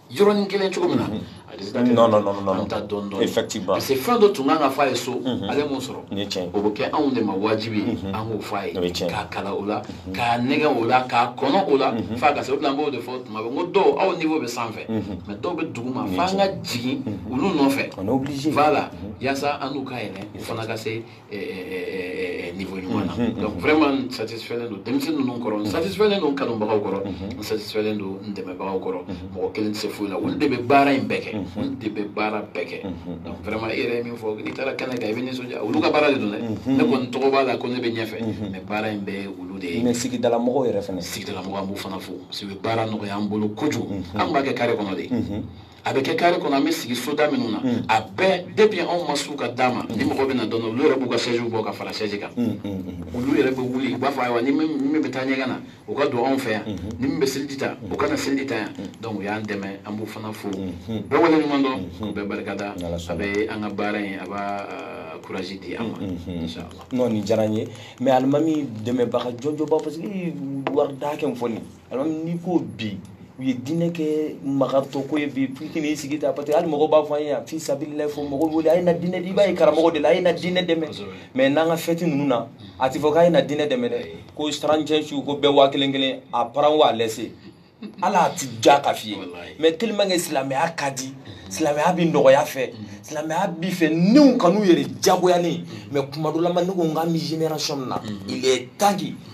yɔrɔnin kelen cogo min na non non non non an ta dɔɔnin dɔɔnin effectivement parce que fɛn dɔ tun kan ka fɔ a ye so mhm. ale m'o sɔrɔ ni tiɲɛ o bɛ kɛ anw de ma wajibi ye mhm. an k'o fɔ a ye k'a kalan o la mhm. k'a nɛgɛ o la k'a kɔnɔ o la f'a ka se o de la an b'o de fɔ tuma bɛɛ n ko dɔw aw niveau bɛ sanfɛ mais dɔw bɛ duguma f'an ka jigin olu nɔfɛ on est obligé voilà yaasa an n'u ka yɛlɛ u fana ka se niveau ɲuman na donc vraiment n satisfailen don denmisɛnnin ninnu kɔrɔ n satisfailen don n kanubagaw kɔrɔ n satisfailen don n dɛmɛbagaw kɔrɔ mɔgɔ kelen tɛ se foyi la olu de bɛ baara in bɛɛ kɛ olu de bɛ baara bɛɛ kɛ donc vraiment i yɛrɛ ye min fɔ n'i taara kɛnɛ kan i bɛ nisɔndiya olu ka baara de don dɛ ne kɔni tɔgɔ b'a la ko ne bɛ ɲɛfɛ mais baara in bɛɛ ye olu de ye mais sigidala mɔgɔw yɛrɛ fana sigidala mɔgɔw an b'u fana fo parce que u bɛ baara nɔgɔya an bolo kojugu an b'a kɛ kare kɔnɔ de a bɛ kɛ kare kɔnɔ an bɛ sigi soda minnu na mm. a bɛɛ depuis anw ma s'u ka da ma mm. ni mɔgɔ bɛ na don olu yɛrɛ b'u ka sɛjiw bɔ ka fara sɛji kan mm, olu yɛrɛ bɛ wuli u b'a fɔ ayiwa ni min bɛ taa ɲɛgɛn na o ka don anw fɛ yan mm-hmm. ni min bɛ seliji ta o ka na seliji ta yan donc u y'an dɛmɛ an b'u fana fo mm-hmm. bɛɛ wale ɲuman dɔn mm-hmm. u bɛɛ barika da a bɛ an ka baara in a b'a courage di an ma inchallah non nin diyara n ye mais alimami dɛmɛbaga jɔnjɔnba parce que wari da hakɛ min fɔ nin alimami n'i ko bi u ye diinɛ kɛ magatɔ ko ye bi f'i k'i n'i sigi ta parce que hali mɔgɔw b'a fɔ an ye yan fi sabililayi fo mɔgɔw wele a ye na diinɛ i b'a ye karamɔgɔ de la a ye na diinɛ dɛmɛ mais n'an ka fɛti ninnu na a ti fɔ k'a ye na diinɛ dɛmɛ dɛ ko trente et un su ko bɛɛ waa kelen kelen a paran waa lɛse ala a ti ja ka f'i ye mais tellement que silamɛya ka di silamɛya bi nɔgɔya fɛ silamɛya bi fɛ niw kan'u yɛrɛ jagoyalen mais kuma dɔ la ma ne ko n k'an bɛ génération min na il est temps que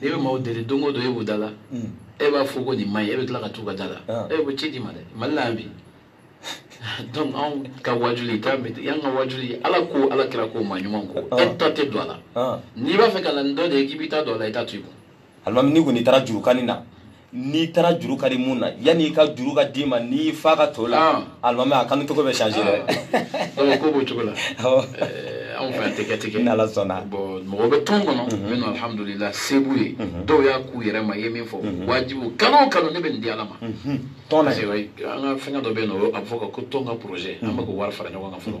n'i bɛ maaw deli don o don e b'u da la hmm. e b'a fɔ ko nin man ɲi e bɛ tila ka t'u ka da la ah. e ko ci d'i ma dɛ mali la yan bi donc anw ka wajuli k'an bɛ yan ka wajuli ala ko ala kira ko maa ɲuman ko ah. e ta tɛ don a la ah. n'i b'a fɛ ka na nin dɔ de ye k'i b'i ta don a la i t'a to i kun alimami n'i kɔni taara jurukanni na n'i taara juru ka di mun na yanni i ka juru ka d'i ma n'i fa ka to la alimami a kanu cogo bɛ changer dɛ ko b'o cogo la anw fɛ yan tɛ kɛ ten kɛ n'ala sɔnna bon mɔgɔ bɛ tɔn kɔnɔ minnu alihamudulila se b'u ye dɔw y'a k'u yɛrɛ ma i ye min fɔ wajibu kalo o kalo ne bɛ nin di ala ma tɔn na an ka fɛngɛ dɔ bɛ yen nɔ a bɛ fɔ ko tɔn ka projet an bɛ k'o wari fara ɲɔgɔn kan fɔlɔ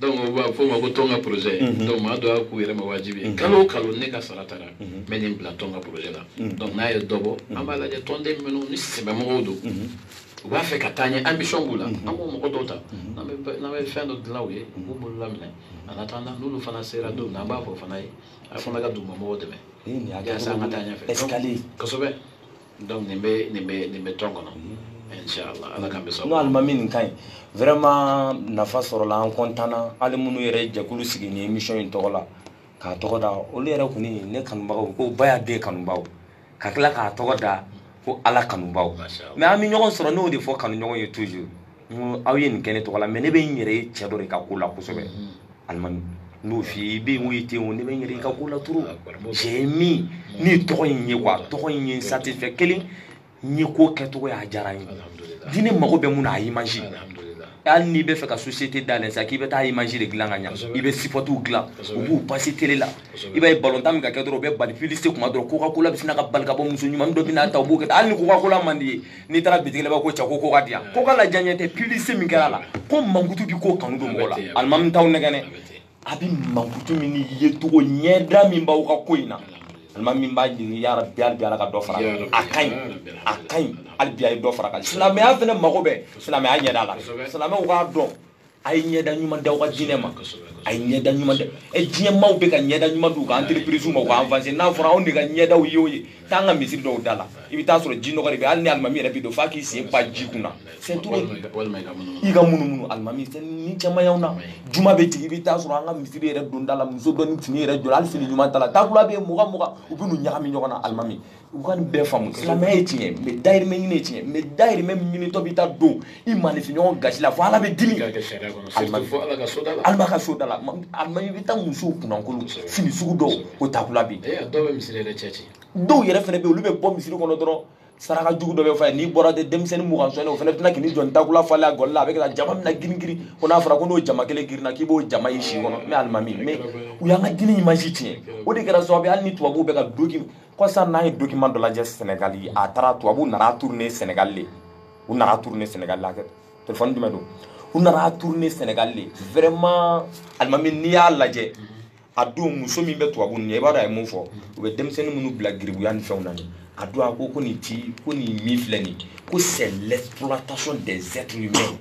donc u b'a fɔ o ma ko tɔn ka projet mhm. donc maa dɔ y'a k'u yɛrɛ ma wajibi ye mhm. kalo o kalo ne ka sara taara n mhm. bɛ nin bila tɔn ka projet la donc n'a ye dɔ bɔ an b'a lajɛ tɔnden minnu ni sɛbɛmɔgɔw don u b'a fɛ ka taa ɲɛ ambition b'u la an b'o mɔgɔ dɔw ta n'an bɛ fɛn dɔ dilan u ye u b'u bolo laminɛ en attendant n'olu fana sera don min na an b'a fɔ fana ye a fana ka dugumamɔgɔw dɛmɛ yaasa an ka taa ɲɛfɛ escalier kosɛbɛ donc nin bɛ nin bɛ nin bɛ tɔn kɔnɔ inshallah ala k'an bɛɛ sɔn n'o alimami nin ka ɲi vraiment nafa sɔrɔla an kɔntanna hali minnu yɛrɛ jɛkulu sigi nin émission in tɔgɔ la k'a tɔgɔ da olu yɛrɛ kɔni ne kanubagaw ko ba y'a den kanubaaw ka tila k'a tɔgɔ da ko ala kanubaaw mais an bɛ ɲɔgɔn sɔrɔ n'o de fɔ kanuɲɔgɔn ye toujours n ko aw ye nin kɛ ne tɔgɔ la mais ne bɛ n yɛrɛ ye cɛ dɔ de ka ko la kosɛbɛ alimami n'o f'i ye i bɛ yen o i tɛ yen o ne bɛ n yɛrɛ i ka ko la trop cɛ min ni tɔgɔ in ye quoi tɔgɔ in ye n satisfait kelen n ye ko kɛcogo y'a diyara n ye diinɛ mago bɛ mun na a ye image hali n'i bɛ fɛ ka société dayɛlɛ sa k'i bɛ taa image de dilan ka ɲa i bɛ sipotiw dilan u b'u passer télé la i b'a ye balontan min ka kɛ dɔrɔn u bɛ bali publicité kuma dɔrɔn coca cola bɛ sin ka bali ka bɔ muso ɲumannin dɔ bɛ n'a ta u b'o kɛ hali ni coca cola man di ye n'i taara bitigi la i b'a ko cɛ ko coca di yan coca la diya ɲɛ tɛ publicité min kɛra a la ko mankutu bɛ ko kanu don mɔgɔ la alimami t'aw nɛgɛn dɛ a bɛ mankutu min ni yecogo ɲɛda min b'aw ka ko in na alimami min b'a ɲini ya rabi hali bi ala ka dɔ fara a ka ɲi a ka ɲi hali bi a ye dɔ fara kan silamɛya fana mago bɛ silamɛya ɲɛda la silamɛw k'a dɔn a ye ɲɛda ɲuman d'aw ka diinɛ ma a ye ɲɛda ɲuman di e diɲɛ maaw bɛ ka ɲɛda ɲuman d'u ka entreprise ma u ka avancer n'a fɔra anw de ka ɲɛdaw ye o ye taa an ka misiri dɔw da la i bɛ taa sɔrɔ ji nɔgɔ de bɛ hali ni alimami yɛrɛ bɛ don f'a k'i sen pan ji kunna c'est trop i ka munumunu alimami ni caman y'anw na juma bɛ jigin i bɛ taa sɔrɔ an ka misiri yɛrɛ don da la muso dɔ ni fini yɛrɛ jɔra hali fini ɲuman t'a la takula bɛ yen mugan mugan u bɛ n'u ɲagami ɲɔgɔn na alimami u ka nin bɛɛ faamu silamɛya ye tiɲɛ mais dayirimɛ ɲini ye tiɲɛ mais dayirimɛ min ɲinitɔ bɛ taa don i maanifinɲɔgɔn gasi la fo ala bɛ dimi alima ka so da la alimami i bɛ taa musow kunnankolo fini sugu dɔw o takula bɛ yen dɔw yɛrɛ fana bɛ yen olu bɛ bɔ misiri kɔnɔ dɔrɔn saraka jugu dɔ bɛ fɔ i ye n'i bɔra de denmisɛnnin mugan sɔnni o fana bɛ tila k'i jɔ takula falen a gɔli la a bɛ ka jama min na girin girin ko n'a fɔra ko n'o jama kelen girinna k'i b'o jama y'i si kɔnɔ mais alimami mais u y'an ka diinɛ image tiɲɛ o de kɛra sababu ye hali ni tubabuw bɛ ka doki kɔsa n'an ye document dɔ lajɛ sɛnɛgali a taara tubabuw nana tourner sɛnɛgali le u nana tourner sɛnɛgali la telefɔni jumɛn don u nana tourner sɛnɛgali le vraiment alimami n'i y'a lajɛ a don muso min bɛ tubabu nin ye i b'a dɔn a ye mun fɔ u bɛ denmisɛnnin minnu bila garibuya ni fɛnw na nin a don a ko ko nin ti ko nin min filɛ nin ko c'est l'exploitation des êtres humains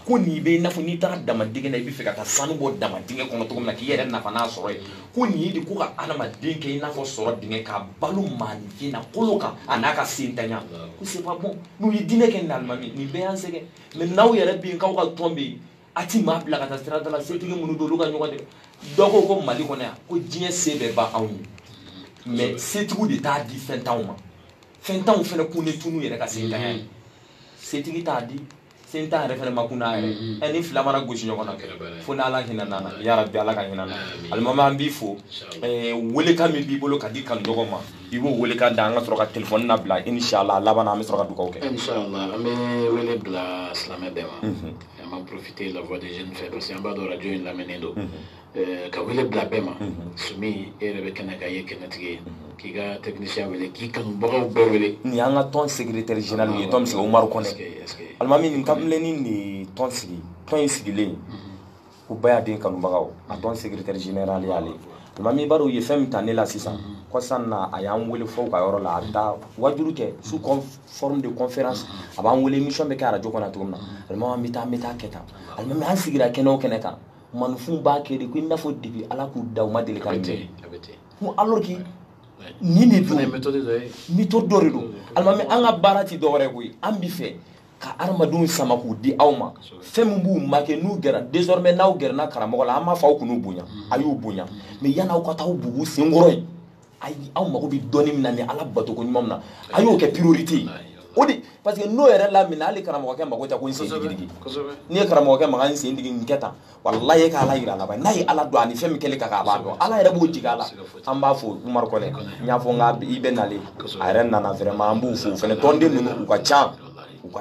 ko nin bɛ i n'a fɔ n'i taara damadingɛ na i bɛ fɛ ka taa sanu bɔ damadingɛ kɔnɔ cogo min na k'i yɛrɛ nafa n'a sɔrɔ ye ko nin ye de ko ka adamaden kɛ i n'a fɔ sɔrɔ dingɛ ka balo maaninfin na kolo kan a n'a ka setanya ko c'est pas bon n'u ye diinɛ kɛ nin alimami nin bɛɛ y'an sɛgɛn mais n'aw yɛrɛ bɛ yen k'aw ka tɔn bɛ yen a ti maa bila ka taa sira da la setigi minnu don olu ka ɲɔgɔn de dɔn ko ko mali kɔnɔ yan ko diɲɛ se bɛɛ b'anw ye mais setigiw de t'a di fɛntanw ma fɛntanw fana kun ne tunu yɛrɛ ka setanya ye setigi t'a di setan yɛrɛ fana ma kun n'a yɛrɛ mm-hmm. ɛ nin fila mana gosi ɲɔgɔn na fo n'ala hinɛn'an na ya rabi ala ka hinɛ an na alimami an b'i fo welekan min b'i bolo ka di kanuɲɔgɔn ma i b'o welekan da an ka sɔrɔ ka telefɔni labila inshallah laban na an bɛ sɔrɔ ka dugawu kɛ inshallah an bɛ wele bila silamɛ bɛɛ ma mm-hmm. an b'a profiter la voix des jeunes fɛ parce que an b'a dɔn radio in lamɛnnen don mm-hmm. Eh, ka wele bila bɛɛ ma mhm. sumi e yɛrɛ bɛ kɛnɛ kan i ye kɛnɛtigi ye mhm. k'i ka technicien wele k'i kanubagaw bɛɛ wele nin y'an ka tɔn secrétaire général ye tɔn min sigi umaru kɔnɛ alimami nin kamalennin de ye tɔn sigi tɔn in sigilen mhm. ko bayaden kanubagaw a tɔn secrétaire général y'ale alimami i b'a dɔn u ye fɛn min ta ne la sisan kɔsa in na a y'an wele fo u ka yɔrɔ la a bɛ taa wajuli kɛ sous forme de conférence a b'an wele émission bɛ kɛ arajo kɔnɔ cogo min na alimami an bɛ taa an bɛ taa a kɛ tan alimami an sigira kɛnɛ o kɛnɛ kan maaninfinw b'a kɛ de ko i n'a fɔ depuis ala k'u da u ma deli k'a mɛn ko alors que nin de don méthode dɔ ye méthode dɔ de don alimami an ka baara ti dɔwɛrɛ koyi an bi fɛ ka adamadenw sama k'u di aw ma fɛn min b'u manquer n'u gɛra désormais n'aw gɛrɛna karamɔgɔ la an m'a fɔ aw kan'u bonya a y'u bonya mais yan'aw ka taa aw bugu senkɔrɔ yen ayi aw mago bɛ dɔnni min na ni ala bato ko ɲuman min na a y'o kɛ priorité ye o de parce que n'o yɛrɛ lamina hali karamɔgɔkɛ mago tɛ ko n sen digi digi n'i ye karamɔgɔkɛ maga n sen digi n kɛ tan walayi e ka ala yira a la ba n'a ye ala dɔn ani fɛn min kɛli ka kan a b'a dɔn ala yɛrɛ b'o jigin a la an b'a fo umaru kɔnɛ n y'a fɔ n ka i bɛ nalen a yɛrɛ nana vraiment an b'u fo o fana tɔnden ninnu u ka can u ka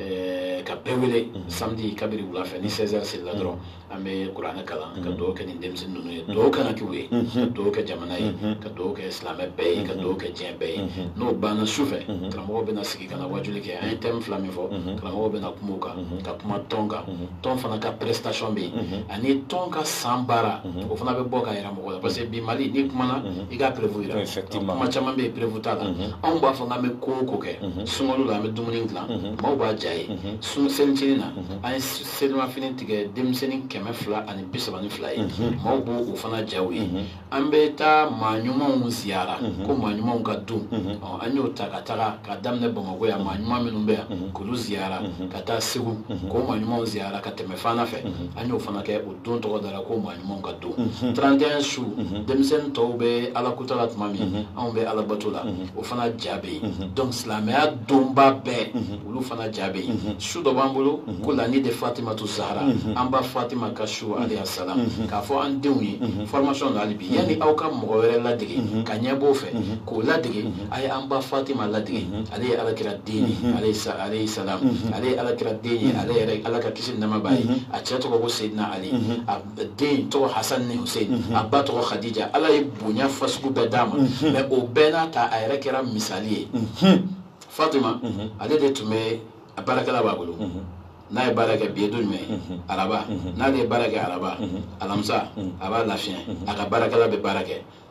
eh, ka bɛɛ wele mhm. samedi kabiri wula fɛ ni 16 heures selila dɔrɔn mhm. an bɛ kuranɛ kalan ka mhm. dugawu kɛ nin denmisɛnnin ninnu ye dugawu kan ka k'u ye ka dugawu kɛ jamana ye ka dugawu kɛ silamɛ bɛɛ ye ka dugawu kɛ diɲɛ bɛɛ ye n'o banna su fɛ karamɔgɔw bɛna sigi ka na wajuli kɛ an ye thème fila min fɔ karamɔgɔw bɛna kuma o kan ka kuma tɔn kan tɔn fana ka prestation bɛ yen ani tɔn ka san baara o fana bɛ bɔ ka yira mɔgɔw la parce que bi mali n'i kumana i ka preuve yira kuma caman bɛ yen preuve t'a la anw b'a fɔ k'an bɛ ko o ko kɛ sunkalo la an bɛ dumuni dilan maaw b'a ja ye sun selicinin na an ye selimafini tigɛ denmisɛnnin kɛmɛ fila ani bi saba ni fila ye maaw b'o o fana jaw ye an bɛ taa maa ɲumanw ziyara ko maa ɲumanw ka don an y'o ta ka taga ka daminɛ bamakɔ yan maa ɲuman minnu bɛ yan k'olu ziyara ka taa segu k'o maa ɲumanw ziyara ka tɛmɛ fana fɛ an y'o fana kɛ o don tɔgɔ dara ko maa ɲumanw ka don 31 su denmisɛnnin tɔw bɛ ala kutala tuma min anw bɛ alabato la o fana ja bɛ yen donc silamɛya donba bɛɛ mhm. olu fana ja bɛ yen mhm. su dɔ b'an bolo mhm. ko la nuit de fatimatu zahra an ba fatima ka su alayha salam k'a fɔ an denw ye formation na hali bi yanni aw ka mɔgɔ wɛrɛ ladege ka ɲɛ b'o fɛ k'o ladege a ye an ba fatima ladege ale ye alakira den ye alayhi salam ale ye alakira den ye ale yɛrɛ ala ka kisi ni nɛɛma b'a ye a cɛ tɔgɔ ko seyidina ali den tɔgɔ hasan ni hussein mhm. a ba tɔgɔ khadija ala ye bonya fasugu bɛɛ d'a ma mhm. mais o bɛɛ n'a ta a yɛrɛ kɛra misali ye mhm. fatima ale de tun bɛ a baarakɛla b'a bolo n'a ye baara kɛ bi ye don jumɛn araba n'ale ye baara kɛ araba alamisa a b'a lafiya a ka baarakɛla bɛ baara kɛ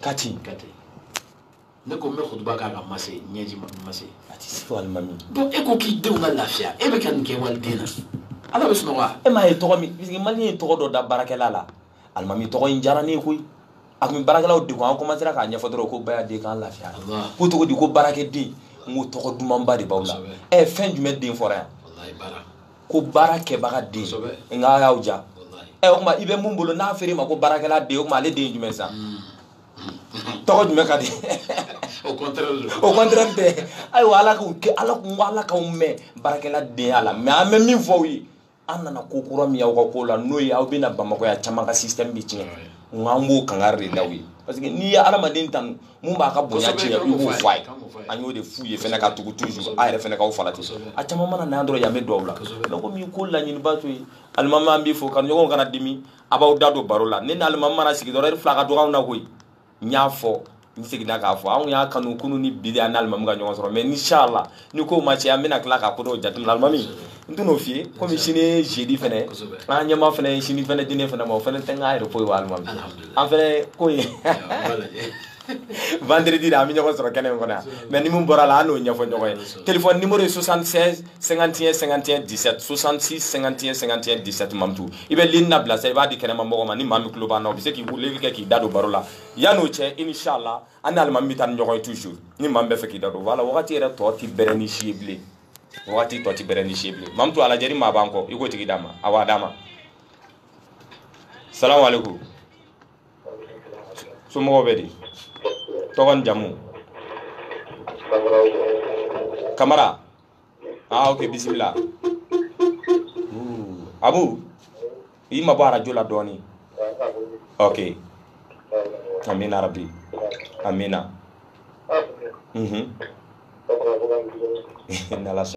kati kati ne ko n bɛ kutuba k'a ka mase ɲɛji mase a tɛ se alimami donc e ko k'i denw ka lafiya e bɛ ka nin kɛ waliden na ala bɛ sunɔgɔ wa e m'a ye tɔgɔ min parce que maliyɛn ye tɔgɔ dɔ da baarakɛla la alimami tɔgɔ in diyara ne ye koyi a tun bɛ baarakɛlaw degun an commencera k'a ɲɛfɔ dɔrɔn ko baya den k'an lafiya ko tɔgɔ di ko baarakɛden n ko tɔgɔ dumanba de b'aw la ɛ fɛn jumɛn den fɔra yan ko baarakɛbaga den nka a y'aw ja ɛ o tuma i bɛ mun bolo n'a f'e yɛrɛ ma ko baarakɛla den o tuma ale den ye jumɛn sa tɔgɔ jumɛn ka di au contraire dɛ ayiwa ala k'u kɛ ala kun ko ala k'aw mɛɛn baarakɛladenya la mais an bɛ min fɔ aw ye an nana ko kura min y'aw ka ko la n'o ye aw bɛna bamakɔya caman ka système bɛ tiɲɛ nka an b'o kangari de da aw ye parce que n'i ye adamaden tanu mun b'a ka bonya tiɲɛ i b'o fɔ a ye an y'o de f'u ye fɛnɛ ka tugu toujours a yɛrɛ fɛnɛ k'aw flatter a caman mana na yan dɔrɔn yan bɛ dɔw la mais komi ko laɲiniba to ye alimami an b'i fo kanuɲɔgɔn kana dimi aw b'aw da don baro la ne ni alimami mana sigi dɔrɔn heure fila ka dɔgɔ anw na koyi n y'a fɔ n seginna k'a fɔ anw y'a kanu kunu ni bi de an n'alimami ka ɲɔgɔn sɔrɔ mais inshallah ni ko ma cɛn an bɛna tila ka ko dɔw jateminɛ alimami n tɛn'o f'i ye komi sini ye jeudi fɛnɛ ye an ɲɛma fɛnɛ ye sini fɛnɛ di ne fɛnɛ ma o fɛnɛ tɛ n ka repos ye wa alimami an fɛnɛ ko ye vendredi de an bɛ ɲɔgɔn sɔrɔ kɛnɛ in kɔnɔ yan mais ni min bɔra la an n'o ɲɛfɔ ɲɔgɔn ye telefɔni nimoro ye 76 51 51 17 66 51 51 17 mamutu i bɛ ligne labila sa i b'a di kɛnɛma mɔgɔ ma ni maa min tulo b'an na o bɛ se ka weleli kɛ k'i da don baro la yan'o cɛ inshallah an ni alimami bɛ taa ni ɲɔgɔn ye toujours ni maa min b'a fɛ k'i da don voilà wagati yɛrɛ tɔ ti bɛrɛnin si ye bilen wagati tɔ ti bɛrɛnin si ye bilen mamutu a lajɛ ni maa b'an kɔ i k'o tigi d'an ma ayiwa d'an ma salamu aleykum somɔgɔw bɛ di tɔgɔ ni jamu kamara ah ok bisimila abu i ma bɔ arajo la dɔɔni ok amina rabi amina mhm